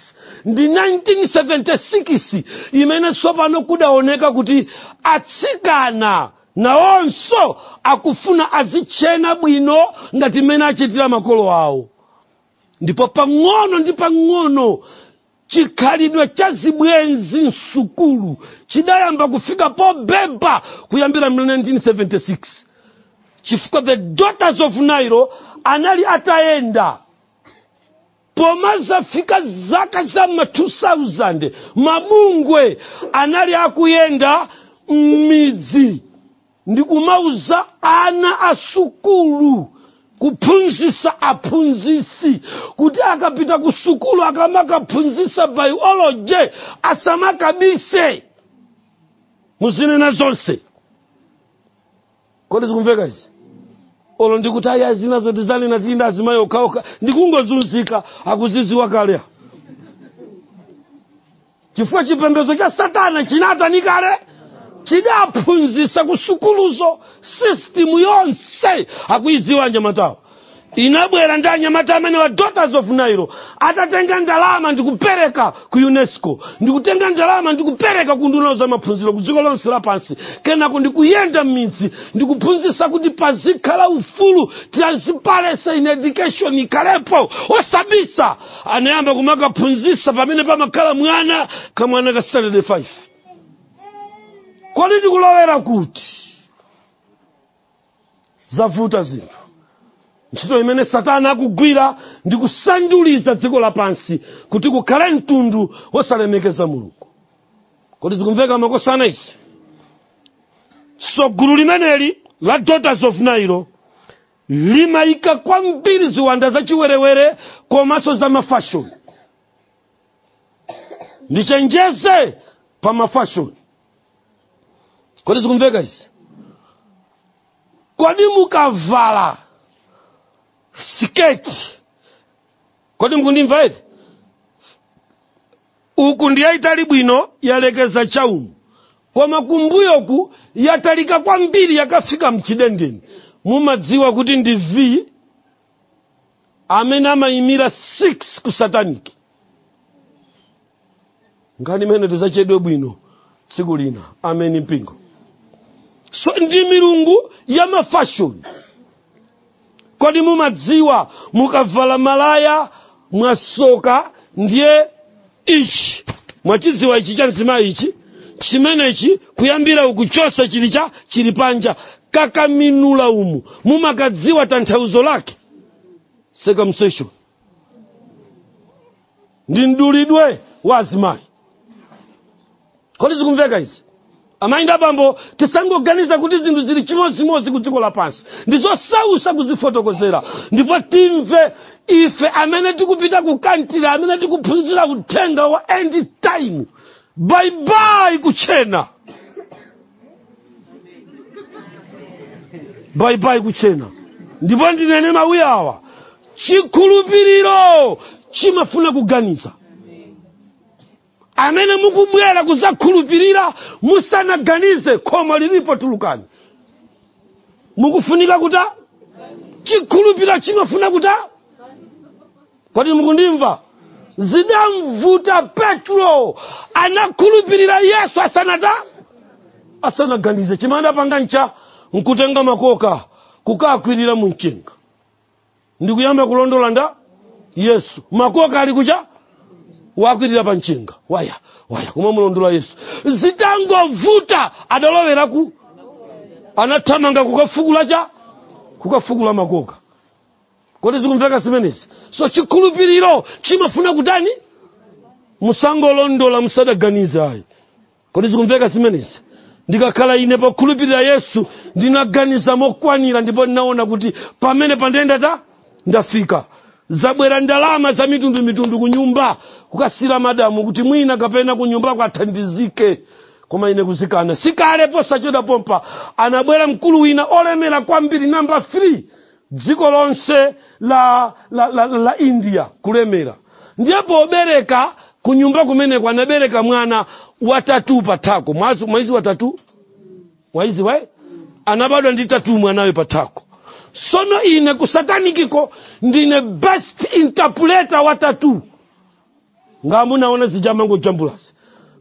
A: ndi 1976 imene tsopano kudaoneka kuti atsikana nawonso akufuna azitchena bwino ngati mmene achitira makolo awo ndipo pang'ono ndi pang'ono chikhalidwe cha zibwenzi msukulu chidayamba kufika pobeba kuyambira mu 1976 chifukwa the daughters of nile anali atayenda pomazafika zaka za ma 2000 mabungwe anali akuyenda m'midzi ndi kumauza ana a sukulu kuphunzisa aphunzisi kuti akapita ku sukulu akamakaphunzisa biology asamakabise muzinena zonse kodi zikumveka izi olo ndikuti aya zina zoti zanena tinda azimayi okhaokha ndikungozunzika akuziziwa kale chifukwa chipembedzo cha satana chinatani kale chidaphunzitsa kusukuluzo sistimu yonse akuyidziwa anyamatawo inabwera ndi anyamata amene wa daughters of nairo atatenga ndalama ndikupereka ku unesco ndikutenga ndalama ndikupereka ku nduna za maphunziro ku dziko lonse lapansi kenako ndikuyenda m'midzi ndikuphunzitsa kuti pazikhala ufulu transparency in education ikhalepo osabisa anayamba kumakaphunzitsa pamene pamakhala mwana kamwana ka standard 5 kodi ndikulowera kuti zavuta zinthu ntchito imene satana akugwira ndi kusanduliza dziko lapansi kuti kukhale mtundu wosalemekeza mulungu kodi zikumveka makosana izi so gulu limeneli la daughters of nairo limayika kwambiri ziwanda zachiwerewere komanso za mafashoni ndichenjeze pa mafashoni kodi zikumveka izi kodi mukavala siketi kodi mukundimva eti uku ndi yayitali bwino yalekeza chaumu koma kumbuyoku yatalika kwambiri yakafika mchidendeni mumadziwa kuti ndi v amene amayimira 6 ku sataniki nkhani imene tizacheze bwino tsiku lina ameni mpingo so ndi milungu ya mafashoni kodi mumadziwa mukavala malaya mwasokera ndiye ichi mwachidziwa ichi cha mzimayi ichi chimenechi kuyambira ukuchosa chili cha chili panja kakaminula umu mumakadziwa tanthauzo lake circumcision ndi mdulidwe wa azimayi kodi zikumveka izi amayi ndi abambo tisangoganiza kuti zinthu zili chimodzimodzi ku dziko lapansi ndi zosausa kuzifotokozera ndipo timve ife amene tikupita ku kantiri amene tikuphunzira uthenga wa end time baibai kutchena baibai kutchena ndipo ndinene mawu awa chikhulupiriro chimafuna kuganiza amene mukubwera kuzakhulupirira musanaganize khomo lilipo tulukani mukufunika kuta chikhulupiriro chimafuna kuta kodi mukundimva zidamvuta petro anakhulupirira yesu asanata asanaganize chimene adapanga ncha nkutenga makoka kukakwirira mu mchenga ndikuyamba kulondola nda yesu makoka ali kucha wakwirira pa mchenga wayawaya kuma mulondola yesu zitangovuta adalowera ku anathamanga kukafukula cha kukafukula makoka kodi zikumveka zimenezi so chikhulupiriro chimafuna kutani musangolondola musanaganize ayi kodi zikumveka zimenezi ndikakhala ine pokhulupirira yesu ndinaganiza mokwanira ndipo ndinaona kuti pamene pandende ndafika zabwera ndalama za mitundu mitundu ku nyumba kukasiyira madamu kuti mwina kapena ku nyumba kwathandizike koma ine kuzikana sikale posachedwa pompa anabwera mkulu wina olemera kwambiri namba 3 dziko lonse la la india kulemera ndiye pobereka kunyumba kumeneko anabereka mwana wa tattoo pathako mwazi mwayidzi tattoo mwayidzi we anabadwa ndi tattoo mwanayo pathako sono ine kusatanikiko ndine best interpreter wa tattoo nga munaona zija amangojambulazi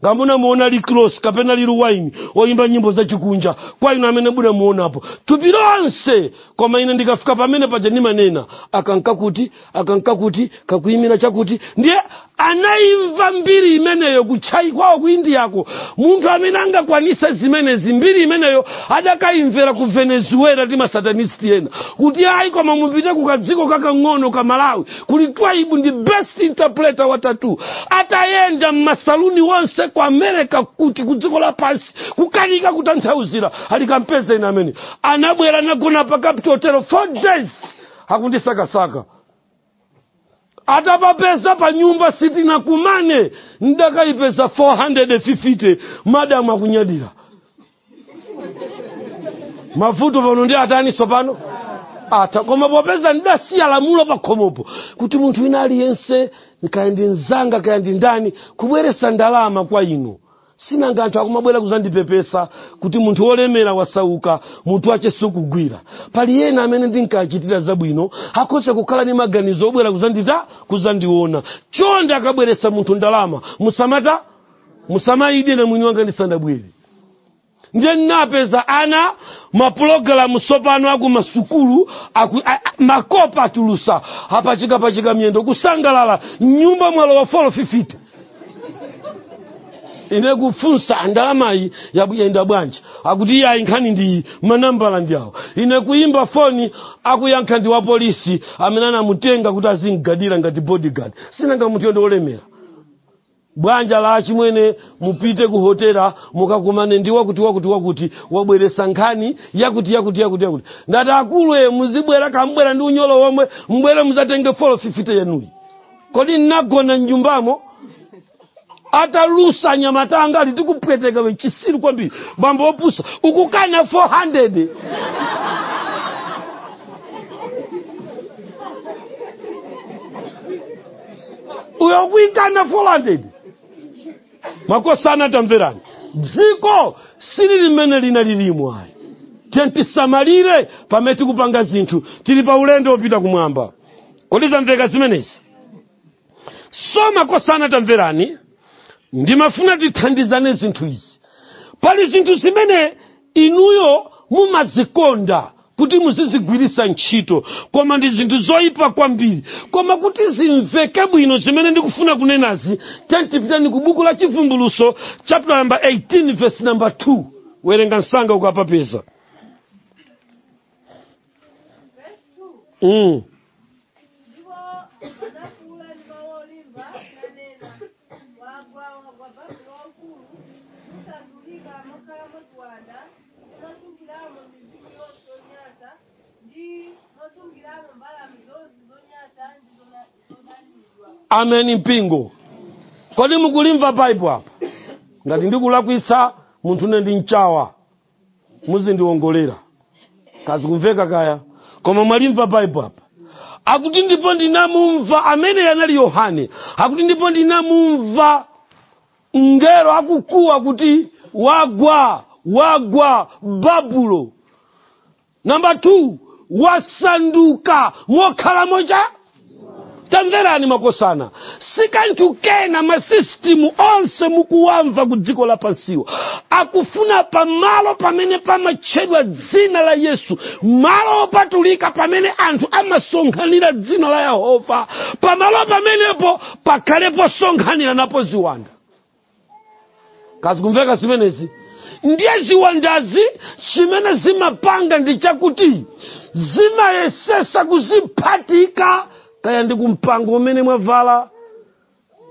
A: nga munamuona rick ross kapena lil wayne oyimba nyimbo zachikunja kwa inu amene munamuonapo thupi lonse koma ine ndikafika pamene paja ndimanena aka nkakuti aka nkakuti kakuyimira chakuti ndiye anayimva mbiri imeneyo kuti ayi kwawo ku indiyako munthu amene angakwanise zimenezi mbiri imeneyo adakayimvera ku venezuela ndi masatanist ena kuti ayi koma mupite ku kadziko kakang'ono ka malawi kuli twaibu ndi best interpreter wa tattoo atayenda mmasaluni wonse ku america kuti ku dziko lapansi kukanika kutanthauzira ali kampezeni amene anabwera anagona pa capital hotel four days akundisakasaka atapapeza pa nyumba sitinakumane ndidakayipeza 450 madamu akunyadira mavuto pano ndi atani tsopano ata koma popeza ndidasiya lamulo pakhomopo kuti munthu wina aliyense kaya ndi mzanga kaya ndi ndani kubweretsa ndalama kwa inu si nanga anthu akumabwera kudzandipepesa kuti munthu wolemera wasauka mutu wake sukugwira pali ena amene ndinkachitira zabwino akhoza kukhala ndi maganizo obwera kudzandita kudzandiona chonde akabweretsa munthu ndalama musamata musamayidye ine mwini wanga ndisanabwere ndiye ndinapeza ana mapulogalamu tsopano akumasukulu a- makope atulusa apachikapachika miyendo kusangalala mnyumba mwalowa folo fifite ine kufunsa ndalamayi yayenda bwanji akuti iyayi nkhani ndi manambala ndi awo ine kuyimba foni akuyankha ndi wapolisi amene anamutenga kuti azimgadira ngati bodyguard sinanga munthuyo ndi olemera bwana uja ali achimwene mupite ku hotela mukakumane ndi wakuti wakuti wakuti wabweresa nkhani yakuti yakuti yakuti yakuti ngati akulu e muzibwera kambwera ndi unyolo womwe mubwere muzatenge folo fifite yanuyi kodi nnagona mnyumbamo atalusa anyamata anga ali tikupweteka iwe chisiru kwambiri bambo opusa ukukana 400 uyo ukuikana 400 makosana tamverani dziko sili limene lina lilimo ayi tiyeni tisamalire pamene tikupanga zinthu tili pa ulendo wopita kumwamba kodi zamveka zimenezi so makosana tamverani ndimafuna tithandizane zinthu izi pali zinthu zimene Inuyo mumazikonda kuti muzizigwiritsa ntchito koma ndi zinthu zoipa kwambiri. Koma kuti zimveke bwino zimene ndikufuna kunenazi, tiyeni tipitani ku buku la Chivumbulutso chaputala namba 18 vesi namba 2. Werenga msanga ukapapeza. mm. ameni mpingo kodi mukulimva baibo apa ngati ndikulakwitsa munthune ndi mchawa muzindiwongolera kazikumveka kaya koma mwalimva baibo apa akuti ndipo ndinamumva amene anali yohane akuti ndipo ndinamumva mngelo akukuwa kuti wagwa wagwa babulo namba 2 wasanduka mokhalamo cha tamverani makosana si kanthu kena masisitimu onse mukuwamva ku dziko lapansiwa akufuna pamalo pamene pamatchedwa dzina la yesu malo opatulika pamene anthu amasonkhanira dzina la yehova pamalo pamenepo pakhale posonkhaniranapo ziwanda kazikumveka zimenezi ndiye ziwandazi chimene zimapanga ndi chakuti zimayesesa kuziphatika kaya ndi kumpango umene mwavala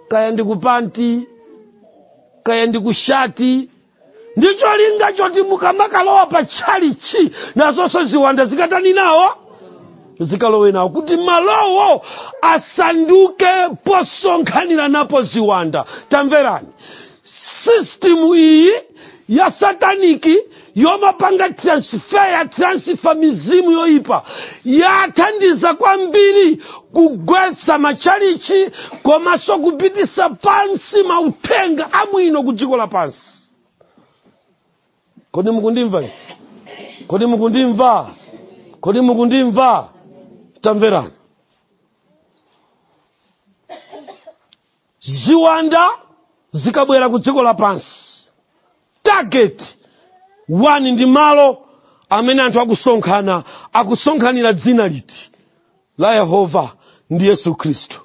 A: kaya ndi kupanti kaya ndi kushati ndi cholinga choti mukamakalowa pa tchalichi nazonso ziwanda zikatani nawo zikalowe nawo kuti malowo asanduke posonkhanira napo ziwanda tamverani sistimu iyi ya sataniki yomapanga transfer yotransifa mizimu yoyipa yathandiza kwambiri kugwetsa matchalichi komanso kupitisa pansi mauthenga abwino ku dziko lapansi kodi mukundimva kodi mukundimva kodi mukundimva tamverani ziwanda zikabwera ku dziko lapansi target one ndi malo amene anthu akusonkhana akusonkhanira dzina liti la yehova ndi yesu khristu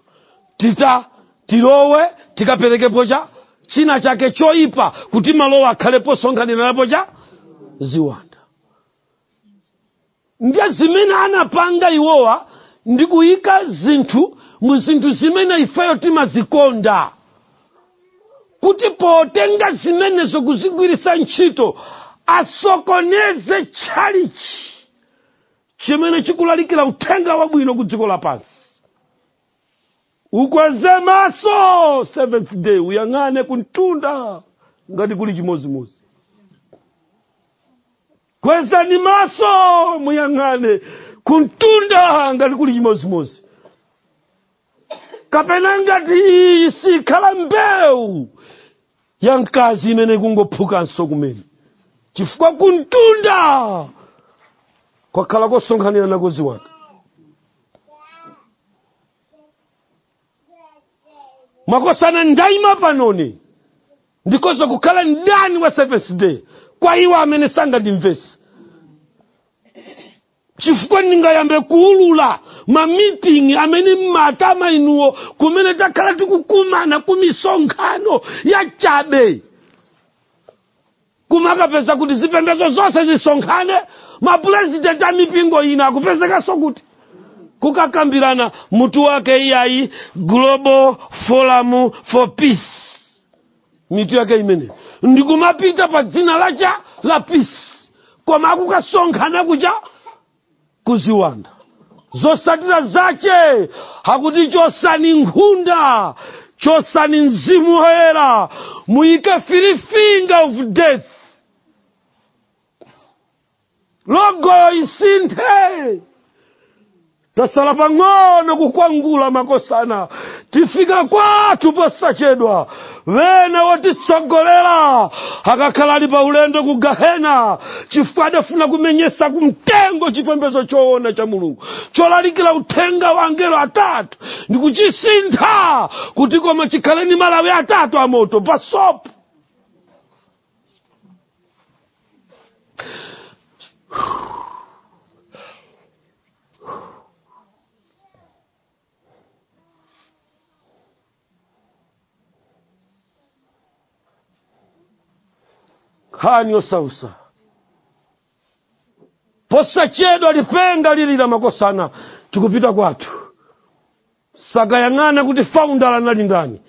A: tita tilowe tikaperekepo cha china chake choyipa kuti malowo akhale posonkhanira napo cha ziwanda ndiye zimene anapanga iwowa ndi kuyika zinthu mu zinthu zimene ifeyo timazikonda kuti potenga zimenezo kuzigwiritsa ntchito asokoneze tchalichi chimene chikulalikira uthenga wabwino ku dziko lapansi ukweze maso seventh day uyang'ane kumtunda ngati kuli chimodzimodzi Kwezani maso muyang'ane kumtunda ngati kuli chimodzimodzi kapena ngati iyi sikhala mbewu ya mkazi imene ikungophukanso kumene chifukwa kumtunda kwakhala kosonkhanira nako ziwanda makosana ndaima panoni ndikoza kukhala mdani wa seventh day kwa iwo amene sangandimvetse chifukwa ndingayambe kuulula mamitingi amene mmanama inuwo kumene takhala tikukumana ku misonkhano ya chabe kumakapeza kuti zipembedzo zonse zisonkhane mapurezidenti a mipingo ina akupezekanso kukuti kukakambirana mutu wake iyayi global forum for peace mitu yake imene ndikumapita pa dzina lacha la peace koma akukasonkhana kucha ku ziwanda zotsatira zake akuti chotsani nkhunda chotsani mzimu woyera muyike fili finger of death logo isinthe tasala pang'ono kukwangula makosana tifika kwathu posachedwa wena wotitsogolera akakhala ali pa ulendo ku gahena chifukwa adafuna kumenyesa kumtengo chipembedzo choona cha mulungu cholalikira uthenga wa angelo atatu ndi kuchisintha kuti koma chikhale ni malawi atatu amoto pa sopo nkhani yosausa posachedwa lipenga lilira makosana tikupita kwathu sakayang'ana kuti faundala anali ndani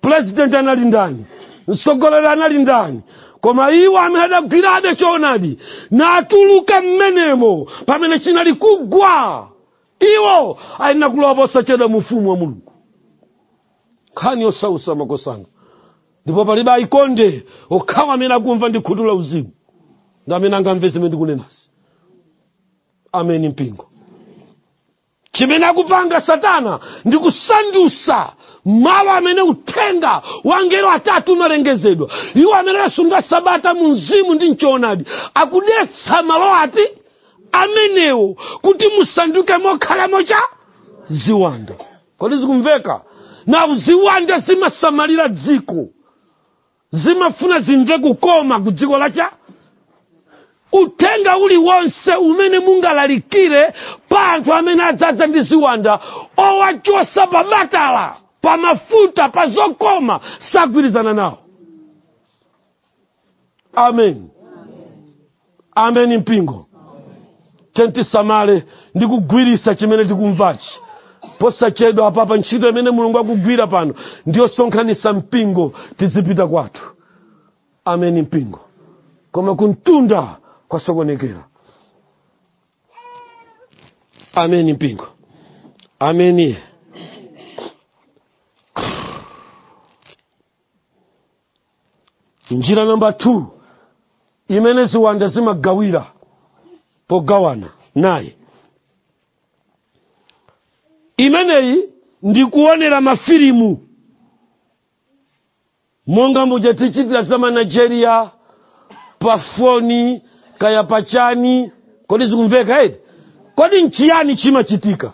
A: pulezidenti anali ndani mtsogolera anali ndani koma iwo amene adagwirabe choonadi natuluka mmenemo pamene chinali kugwa iwo ayenera kulowa posachedwa mu ufumu wa mulungu nkhani yosausa makosana ndipo palibe aikonde okhawa amene akumva ndi khutu la uzimu ndi amene angamve zimene ndikunenazi ameni mpingo chimene akupanga satana ndi kusandusa malo amene uthenga wa angelo atatu umalengezedwa iwo amene asunga sabata mu mzimu ndi mchoonadi akudetsa malo ati amenewo kuti musanduke mokhalamo mwa ziwanda kodi zikumveka nawo ziwanda zimasamalira dziko zimafuna zimve kukoma ku dziko lacha uthenga uliwonse umene mungalalikire pa anthu amene adzadza ndi ziwanda owachotsa pa batala pa mafuta pa zokoma sagwirizana nawo amen amen mpingo ndiye tisamale ndi kugwirisa chimene tikumvachi posachedwa apapa ntchito imene mulungu akugwira pano ndi yosonkhanisa mpingo tidzipita kwathu amen mpingo koma kumtunda kwasokonekera amen mpingo ameni njira namba 2 imene ziwanda zimagawira pogawana naye imeneyi ndi kuonera mafilimu monga muja tichitira za manigeria pa foni kaya pachani kodi zikumveka eti kodi nchiyani chimachitika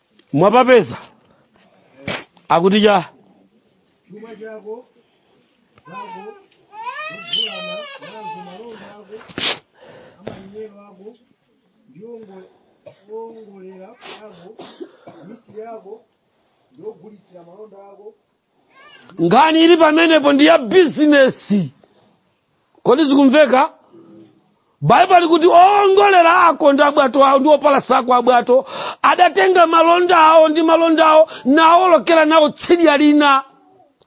A: mwapapeza akuti chuma
B: chako zako zogulana nazo malonda ako amalinyero ako ndi oongolera ako amisiri ako ndi ogulitsira malonda ako nkhani
A: ili pamenepo ndi ya bizinesi kodi zikumveka baibulo likuti owongolera ako ndi abwato awo ndi opalasa ako abwato adatenga malonda awo ndi malonda awo nawolokera nawo tsidya lina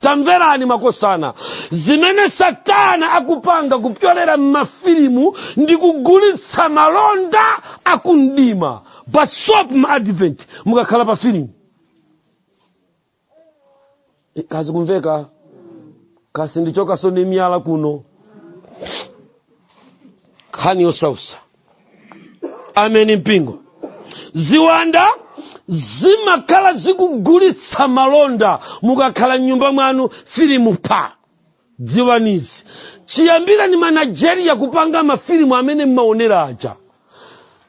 A: tamverani makosana zimene satana akupanga kupyolera m'mafilimu ndi kugulitsa malonda akumdima basop ma advent mukakhala pa filimu Eh, kazikumveka kasi ndichokaso ni myala kuno nkhani yosautsa ameni mpingo ziwanda zimakhala zikugulitsa malonda mukakhala mnyumba mwanu filimu pa dziwani izi chiyambireni ma nigeria kupanga mafilimu amene mmaonera aja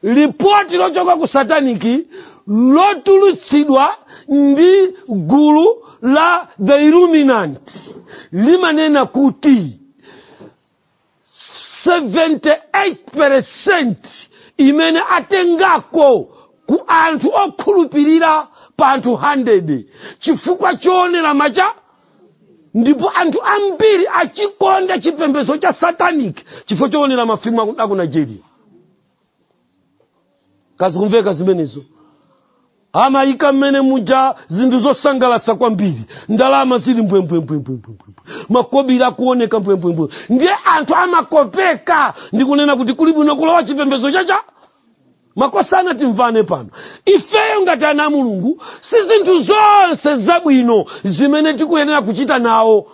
A: lipoti lochoka ku sataniki lotulutsidwa ndi gulu la the illuminati limanena kuti 78% imene atengako ku anthu okhulupirira pa anthu 100 chifukwa choonera macha ndipo anthu ambiri achikonda chipembedzo cha satanic chifukwa choonera mafilimu aku- aku nigeria kazikumveka zimenezo amayika mmene muja zinthu zosangalatsa kwambiri ndalama zili mbwembwembwembwembwe makobiri akuoneka mbwembwembwe ndiye anthu amakopeka ndi kunena kuti kuli bwino kulowa chipembedzo chaja makosana timvane pano ifeyo ngati ana a mulungu si zinthu zonse zabwino zimene tikuyenera kuchita nawo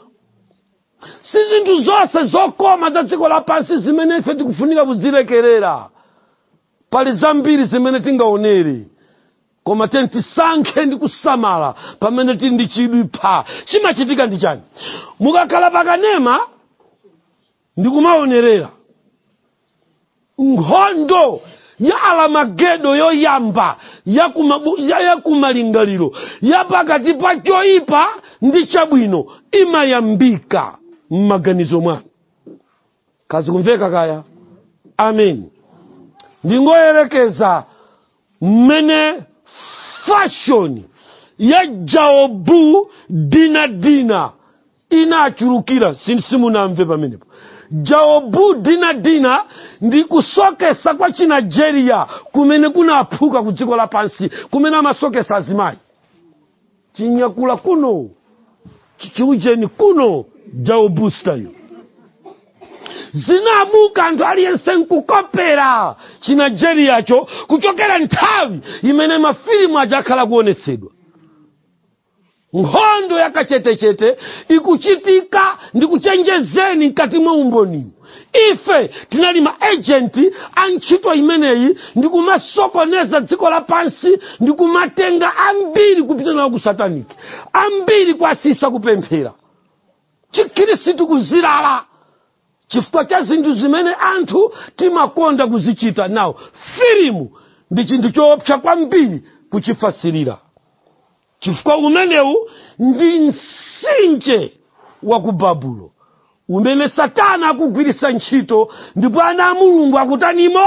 A: si zinthu zonse zokoma za dziko lapansi zimene ife tikufunika kuzilekerera pali zambiri zimene tingaonere koma tiyeni tisankhe ndi kusamala pamene tili ndi chidwi pa chimachitika ndi chani mukakhala pakanema ndikumaonerera nkhondo ya alamagedo yoyamba yakumalingaliro ya, ya pakati pa choyipa ndi chabwino imayambika m'maganizo mwanu kazikumveka kaya amen ndingoyerekeza mmene fashoni ya jaobu dina dina inachulukira si- simunamve pamenepo jaobu dina dina ndi kusoketsa kwa chinigeria kumene kunaphuka ku dziko lapansi kumene amasoketsa azimayi chinyakula kuno chi- chiujeni kuno Jaobu style zinamuka anthu aliyense nkukopera chiNigeriacho kuchokera nthawi imene mafilimu aja akhala kuonetsedwa nkhondo yakachetechete ikuchitika ndi kuchenjezeni mkati mwa umboni ife tinali ma ejenti a ntchito imeneyi ndi kumasokoneza dziko lapansi ndi kumatenga ambiri kupita nawo ku sataniki ambiri kuwasiitsa kupemphera chikhirisitu kuzilala chifukwa cha zinthu zimene anthu timakonda kuzichita nawo filimu ndi chinthu choopsa kwambiri kuchifasirira chifukwa umenewu ndi msinje wa ku babulo umene satana akugwiritsa ntchito ndipo ana a mulungu akutanimo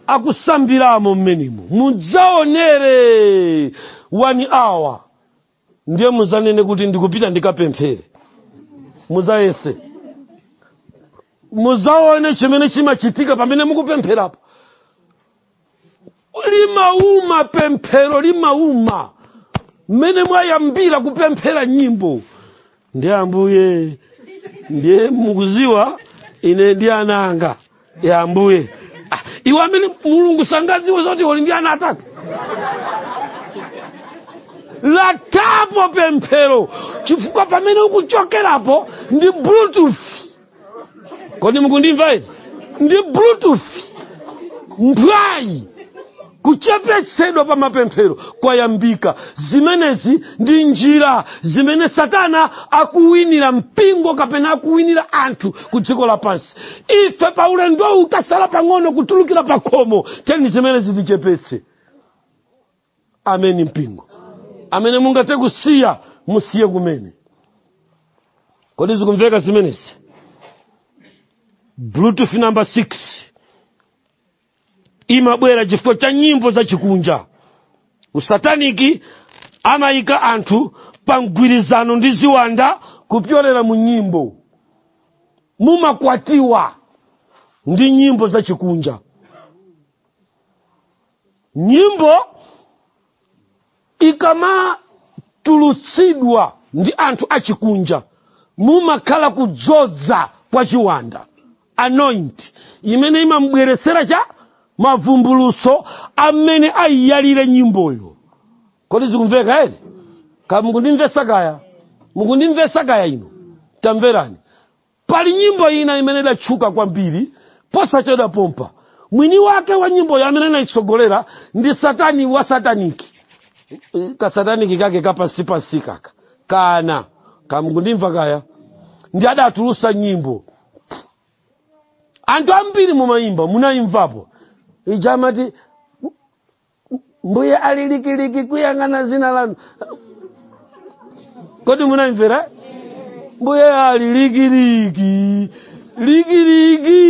A: akusambiramo mmenemo mudzaonere one hour ndiye muzanene kuti ndikupita ndikapemphere muzayese muzaone chimene chimachitika pamene mukupempherapo limauma pemphero limauma mmene mwayambira kupemphera nyimbo ndiye ambuye ndiye mukuziwa ine ndi ana anga ya ambuye ah, iwe amene mulungu sangaziwe zoti uli ndi ana atatu lathapo pemphero chifukwa pamene ukuchokerapo ndi bluetooth kodi mukundimva ine ndi bluetooth mphwayi kuchepetsedwa pa mapemphero kwayambika zimenezi ndi njira zimene satana akuwinira mpingo kapena akuwinira anthu ku dziko lapansi ife pa ulendowu tasala pang'ono kutulukira pa khomo teni zimenezi tichepetse ameni mpingo amene mungathe kusiya musiye kumene kodi zikumveka zimenezi bluetooth number 6 imabwera chifukwa cha nyimbo zachikunja ku sataniki amayika anthu pa mgwirizano ndi ziwanda kupyolera mu nyimbo mumakwatiwa ndi nyimbo zachikunja nyimbo ikamatulutsidwa ndi anthu achikunja mumakhala kudzodza kwa chiwanda anoint imene imamubweretsera cha mavumbuluso amene ayiyalire nyimboyo kodi zikumveka ere kaya mukundimvesa kaya mukundimvesa kaya inu tamverani pali nyimbo ina imene idatchuka kwambiri posachedwa pompa mwini wake wa nyimboyo amene anayitsogolera ndi satani wa sataniki kasataniki kake kapansipansi kaka kana kamkundimva kaya ndi adatulutsa nyimbo anthu ambiri mumayimba munayimvapo ija amati mbuye ali likiliki kuyang'ana zina lanu kodi munayimvera mbuye ali likiliki likiliki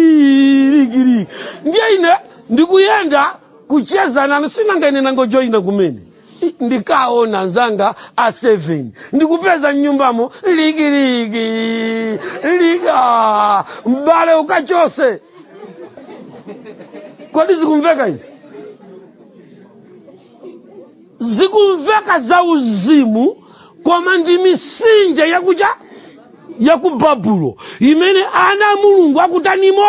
A: likiliki ndiye ine ndikuyenda kucheza nanu sinanga ine nangojoyina kumene I- ndikaona nzanga a 7 ndikupeza mnyumbamo likiliki liki mbale ukachotse kodi zikumveka izi zikumveka za uzimu koma ndi mitsinje yakuja ya ku babulo imene ana a mulungu akutanimo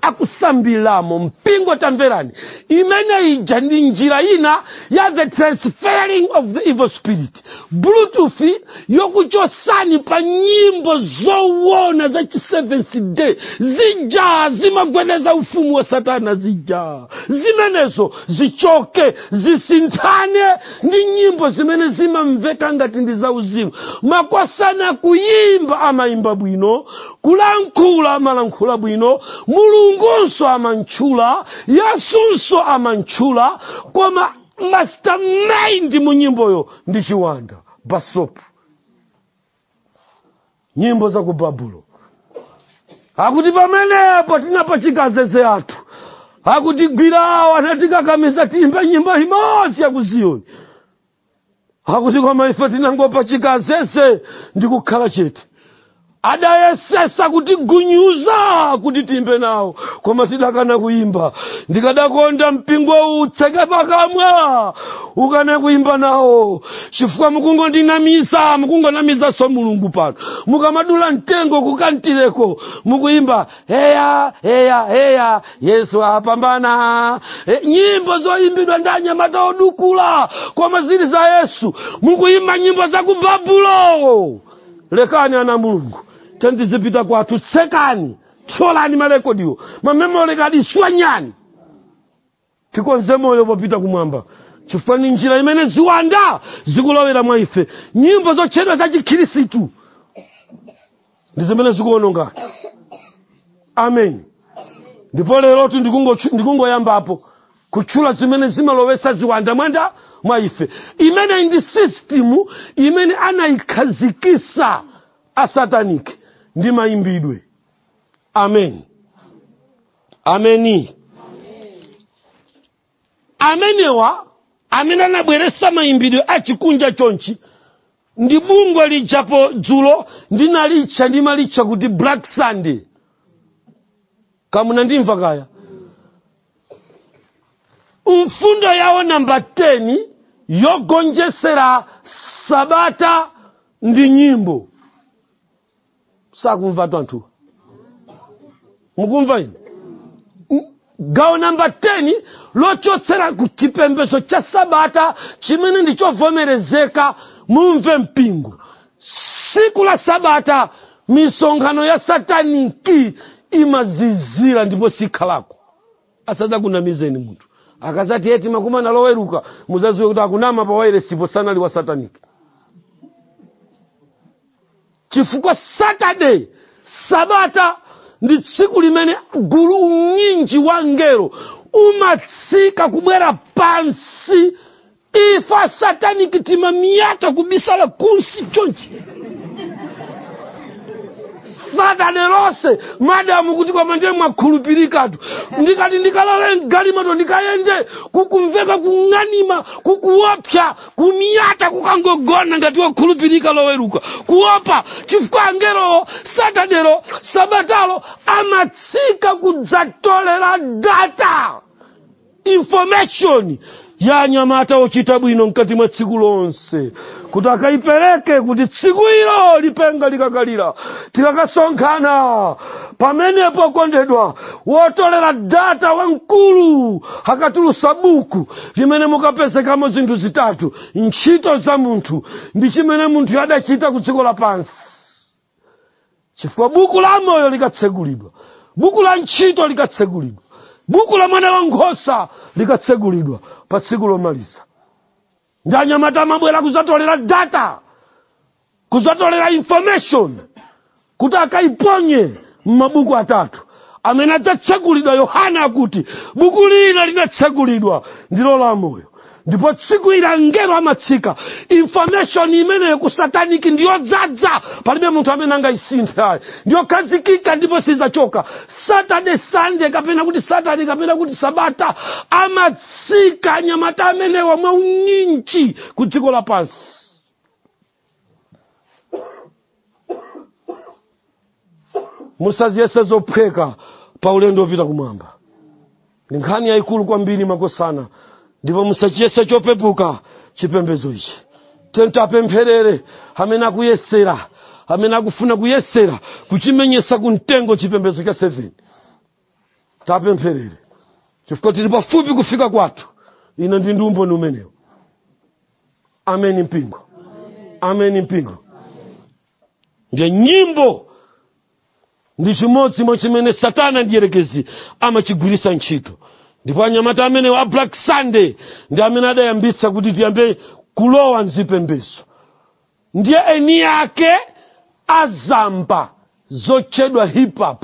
A: akusambiramo mpingo tamverani imene ija ndi njira ina ya the transferring of the evil spirit bluetooth yokuchotsani pa nyimbo zowona za chi seventh day zija zimagwedeza ufumu wa satana zija zimenezo zichoke zisinthane ndi nyimbo zimene zimamveka ngati ndi zauzimu makosana kuyimba amayimba bwino kulankhula amalankhula bwino mulungunso amantchula yesunso amantchula koma mastermind mu nyimboyo ndi chiwanda basopu nyimbo za ku babulo akuti pamenepo tinapachika azeze athu akutigwirawo anatikakamiza tiyimbe nyimbo imodzi ya ku ziyoni akuti koma ife tinangopachika azeze ndi kukhala chete adayesetsa kutigunyuza kuti tiyimbe nawo koma tidakana kuyimba ndikadakonda mpingo utseke pakamwa ukane kuyimba nawo chifukwa mukungondinamiza mukungonamizanso mulungu pano mukamadula mtengo kukantireko mukuyimba heya heya heya yesu apambana e, nyimbo zoyimbidwa ndi anyamata odukula koma zili za yesu mukuyimba nyimbo za ku babulo lekani ana a mulungu tendizipita kwathu tsekani thyolani malekodiwo mamemole kadi swanyani tikonze moyo popita kumwamba chifukwa ni njira imene ziwanda zikulowera mwa ife nyimbo zotchedwa za chikhirisitu ndi zimene zikuononga amen ndipo lerotu ndikungochu- ndikungoyambapo kutchula zimene zimalowesa ziwanda mwanda mwa ife imene ndi sistimu imene anayikhazikisa asataniki ndi mayimbidwe amen ameni amenewa amene anabweresa mayimbidwe achikunja chonchi ndi bungwe lijapo dzulo ndinalitcha ndimalitcha kuti black sunday ngati munandimva kaya mfundo yawo namba 10 yogonjesera sabata ndi nyimbo sakumvatu anthuwa mukumva ine gawo namba 10 lochotsera ku chipembedzo cha sabata chimene ndi chovomerezeka mumve mpingo siku la sabata misonkhano ya sataniki imazizira ndipo sikhalako asadzakunamizeni munthu akazati eti makumana loweruka muzaziwe kuti akunama pa wairesipo sanali wa sataniki chifukwa saturday sabata ndi tsiku limene gulu unyinji wa angelo umatsika kubwera pansi ife asataniki timamyata kubisala kunsi chonchi satade lonse madamu kuti koma ndiye mwakhulupirikatu ndikati ndikalowe mgalimoto ndikayende kukumveka kung'anima kukuopsa kumyata kukangogona ngati wokhulupirika loweruka kuopa chifukwa angelowo satadelo sabatalo amatsika kudzatolera data information ya anyamata ochita bwino mkati mwa tsiku lonse kuti akayipereke kuti tsiku ilo lipenga likakalira tikakasonkhana pamenepo okondedwa wotolera data wamkulu akatulusa buku limene mukapezekamo zinthu zitatu ntchito za munthu ndi chimene munthu adachita ku dziko lapansi chifukwa buku la moyo likatsegulidwa buku la ntchito likatsegulidwa buku la mwana wa nkhosa likatsegulidwa pa tsiku lomaliza ndi anyamata amabwera kuzatolera data kuzatolera information kuti akaiponye m'mabuku atatu amene adzatsegulidwa yohane akuti buku lina linatsegulidwa ndilo la moyo ndipo tsiku ili angelo amatsika information imeneyo ku sataniki ndiyodzadza palibe munthu amene angayisinthe ayi ndiyokhazikika ndipo sizachoka saturday sunday kapena kuti saturday kapena kuti sabata amatsika anyamata amenewa mwaunyinji ku dziko lapansi musaziyese zophweka pa ulendo wopita kumwamba ndi nkhani yayikulu kwambiri makosana ndipo musachiyese chopepuka chipembedzo ichi tiyeni tiapempherere amene akuyesera amene akufuna kuyesera kuchimenyesa ku mtengo chipembedzo cha 7 tiapempherere chifukwa tili pafupi kufika kwathu ine ndi ndi umboni umenewo ameni mpingo ameni mpingo ndiye nyimbo ndi chimodzi mwa chimene satana mdyerekezi amachigwiritsa ntchito ndipo anyamata amenewa a black sunday ndi amene adayambitsa kuti tiyambe kulowa mzipembezo ndiye eni ake azamba zotchedwa hip hop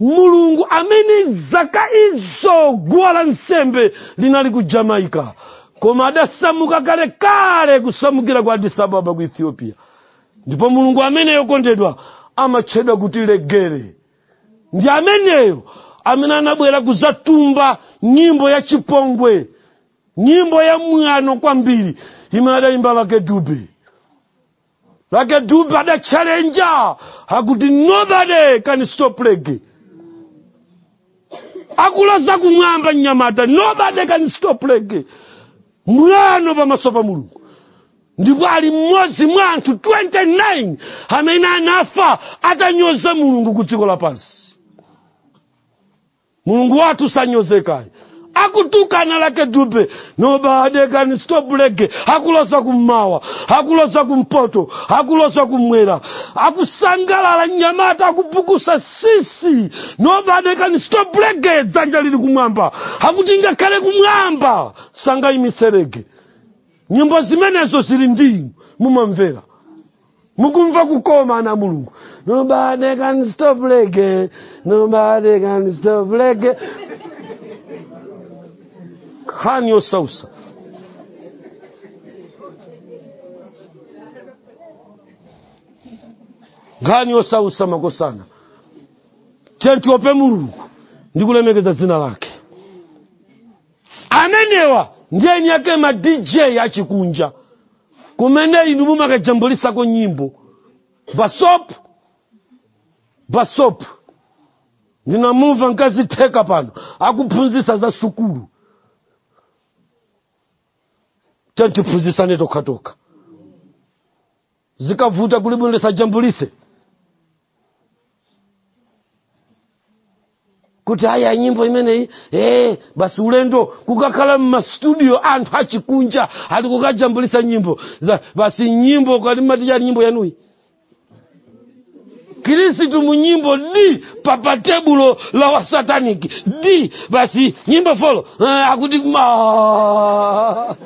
A: mulungu amene zaka izo guwa la nsembe linali ku jamaica koma adasamuka kalekale kusamukira ku addis ababa ku ethiopia ndipo mulungu ameneyo okondedwa amatchedwa kuti reggae ndi ameneyo amene anabwera kuzatumba nyimbo ya chipongwe nyimbo ya mwano kwambiri imene adayimba lucky dube lucky dube adachalenja akuti nobody can stop reggae akuloza kumwamba mnyamata nobody can stop reggae mwano pamaso pa mulungu ndipo ali mmodzi mwa anthu 29 amene anafa atanyoza mulungu ku dziko lapansi mulungu wathu sanyozeka ayi akutukana lucky dube nobody can stop reggae akuloza kummawa akuloza kumpoto akuloza kumwera akusangalala mnyamata akupukusa sisi nobody can stop reggae dzanja lili kumwamba akuti ngakhale kumwamba sangayimitse reggae nyimbo zimenezo zili ndi inu mumamvera mukumva kukoma ana a mulungu nobody can stop reggae nobody can stop reggae nkhani yosausa nkhani yosausa makosana tiyeni tiope mulungu ndi kulemekeza dzina lake amenewa ndi eni ake ma dj achikunja kumene inu mumakajambulisako nyimbo basopu basopu ndinamumva mkazi Theka pano akuphunzisa za sukulu tiyeni tiphunzisane tokhatokha zikavuta kulibwino tisajambulise kuti haya nyimbo imeneyi hey, basi ulendo kukakhala mmastudio anthu achikunja ali kukajambulisa nyimbo basi nyimbo kati matichani nyimbo yanuyi Kristu munyimbo di papatebulo la wasataniki di basi nyimbo folo eh, akuti ma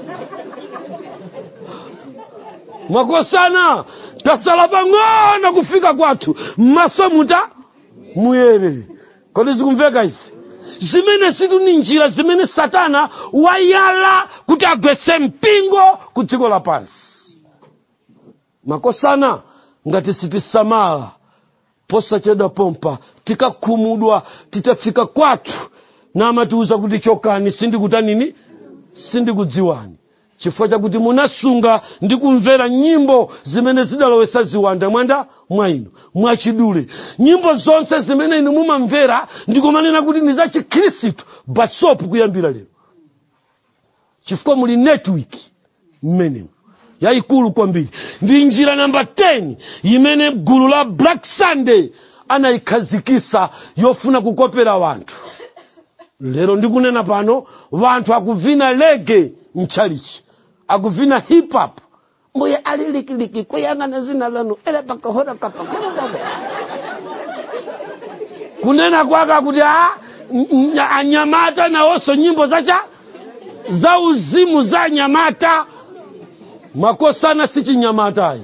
A: makosana tasala pang'ono kufika kwathu maso mutamuyere kodi zikumveka izi zimenezitu ni njira zimene satana wayala kuti agwetse mpingo ku dziko lapansi makosana ngati sitisamala posachedwa pompa tikakhumudwa titafika kwathu n'kumatiuza kuti chokani sindikutanini sindikudziwani chifukwa chakuti munasunga ndi kumvera nyimbo zimene zidalowesa ziwanda mwanda mwa inu mwachidule nyimbo zonse zimene inu mumamvera ndikumanena kuti ndi za chikhristu basopu kuyambira lero chifukwa muli network mmenemu yayikulu kwambiri ndi njira namba 10 imene gulu la Black Sunday anayikhazikisa yofuna kukopera wanthu lero ndikunena pano wanthu akuvina reggae mtchalichi akuvina hip hop mbuye ali likiliki kuyang'ana dzina lanu ele pakahora kapakorokobe kunena kwake akuti a n- n- anyamata nawonso nyimbo za uzimu za anyamata makosana si chinyamatayi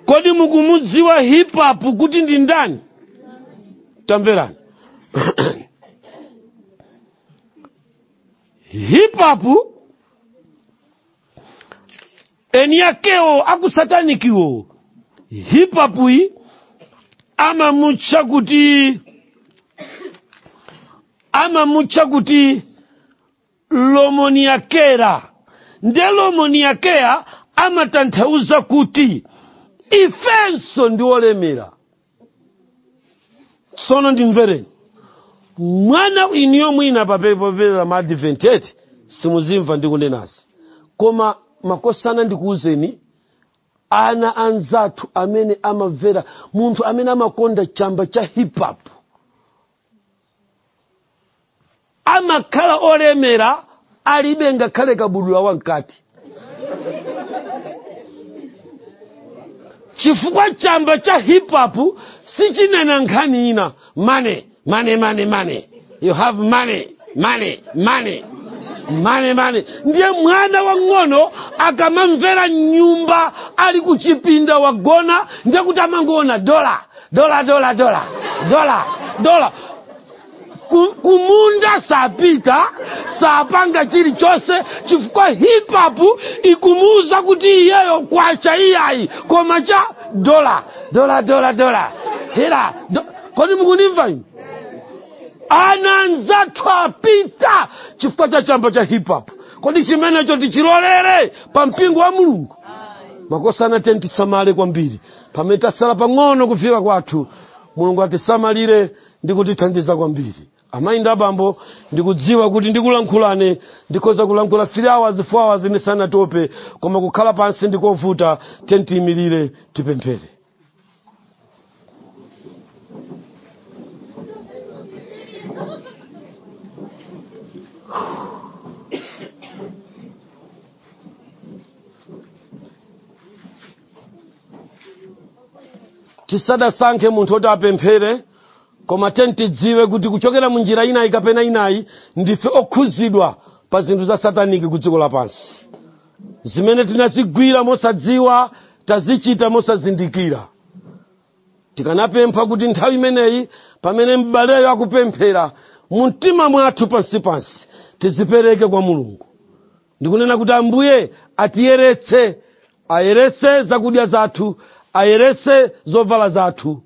A: kodi mukumudziwa hip hop kuti ndi ndani tamverani hip hop eni akewo akusatanikiwo hip hop yi amamutcha kuti lomoniakera nde lomoniakera amatanthauza kuti ifenso ndi olemera tsono ndimvereni mwana iniyo mwina apa popeza ma Adventist simuzimva ndikunenazi koma makosana ndikuwuzeni ana anzathu amene amamvera munthu amene amakonda chamba cha hip hop amakhala olemera alibe ngakhale kabudula wamkati chifukwa chamba cha hip hop sichinena nkhani ina money money money money you have money money money money money ndiye mwana wang'ono akamamvera m'nyumba ali kuchipinda wagona ndiye kuti amangoona dola dola dola dola dola dola Ku- kumunda sapita sapanga chilichonse chifukwa hip hop ikumuuza kuti iyeyo kwacha iyayi koma cha dola dola dola dola hela kodi mukunimva inu ana anzathu apita chifukwa cha chamba cha hip hop kodi chimenecho tichilolere pa mpingo wa mulungu makosana tiyeni tisamale kwambiri pamene tasala pang'ono kufika kwathu mulungu atisamalire ndi kutithandiza kwambiri amayi ndi abambo ndikudziwa kuti ndikulankhulane ndikhoza kulankhula 3 hours 4 hours ndisanatope koma kukhala pansi ndikovuta tiyeni tiyimirire tipemphere tisadasankhe munthu oti apemphere koma tiyeni tidziwe kuti kuchokera mu njira inayi kapena inayi ndife okhuzidwa pa zinthu za sataniki ku dziko lapansi zimene tinazigwira mosadziwa tazichita mosazindikira tikanapempha kuti nthawi imeneyi pamene m'baleyo akupemphera mu mtima mwathu pansipansi tizipereke kwa mulungu ndikunena kuti ambuye atiyeretse ayeretse zakudya zathu ayeretse zovala zathu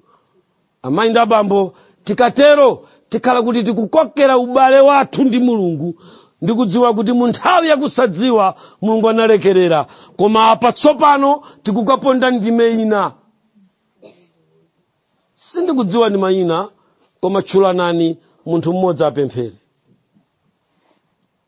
A: amayi ndi abambo tikatero tikhala kuti tikukokera ubale wathu ndi mulungu ndikudziwa kuti mu nthawi yakusadziwa mulungu analekerera koma apa tsopano tikukaponda ndime ina sindikudziwa ndi mayina koma tchulanani munthu mmodzi apemphere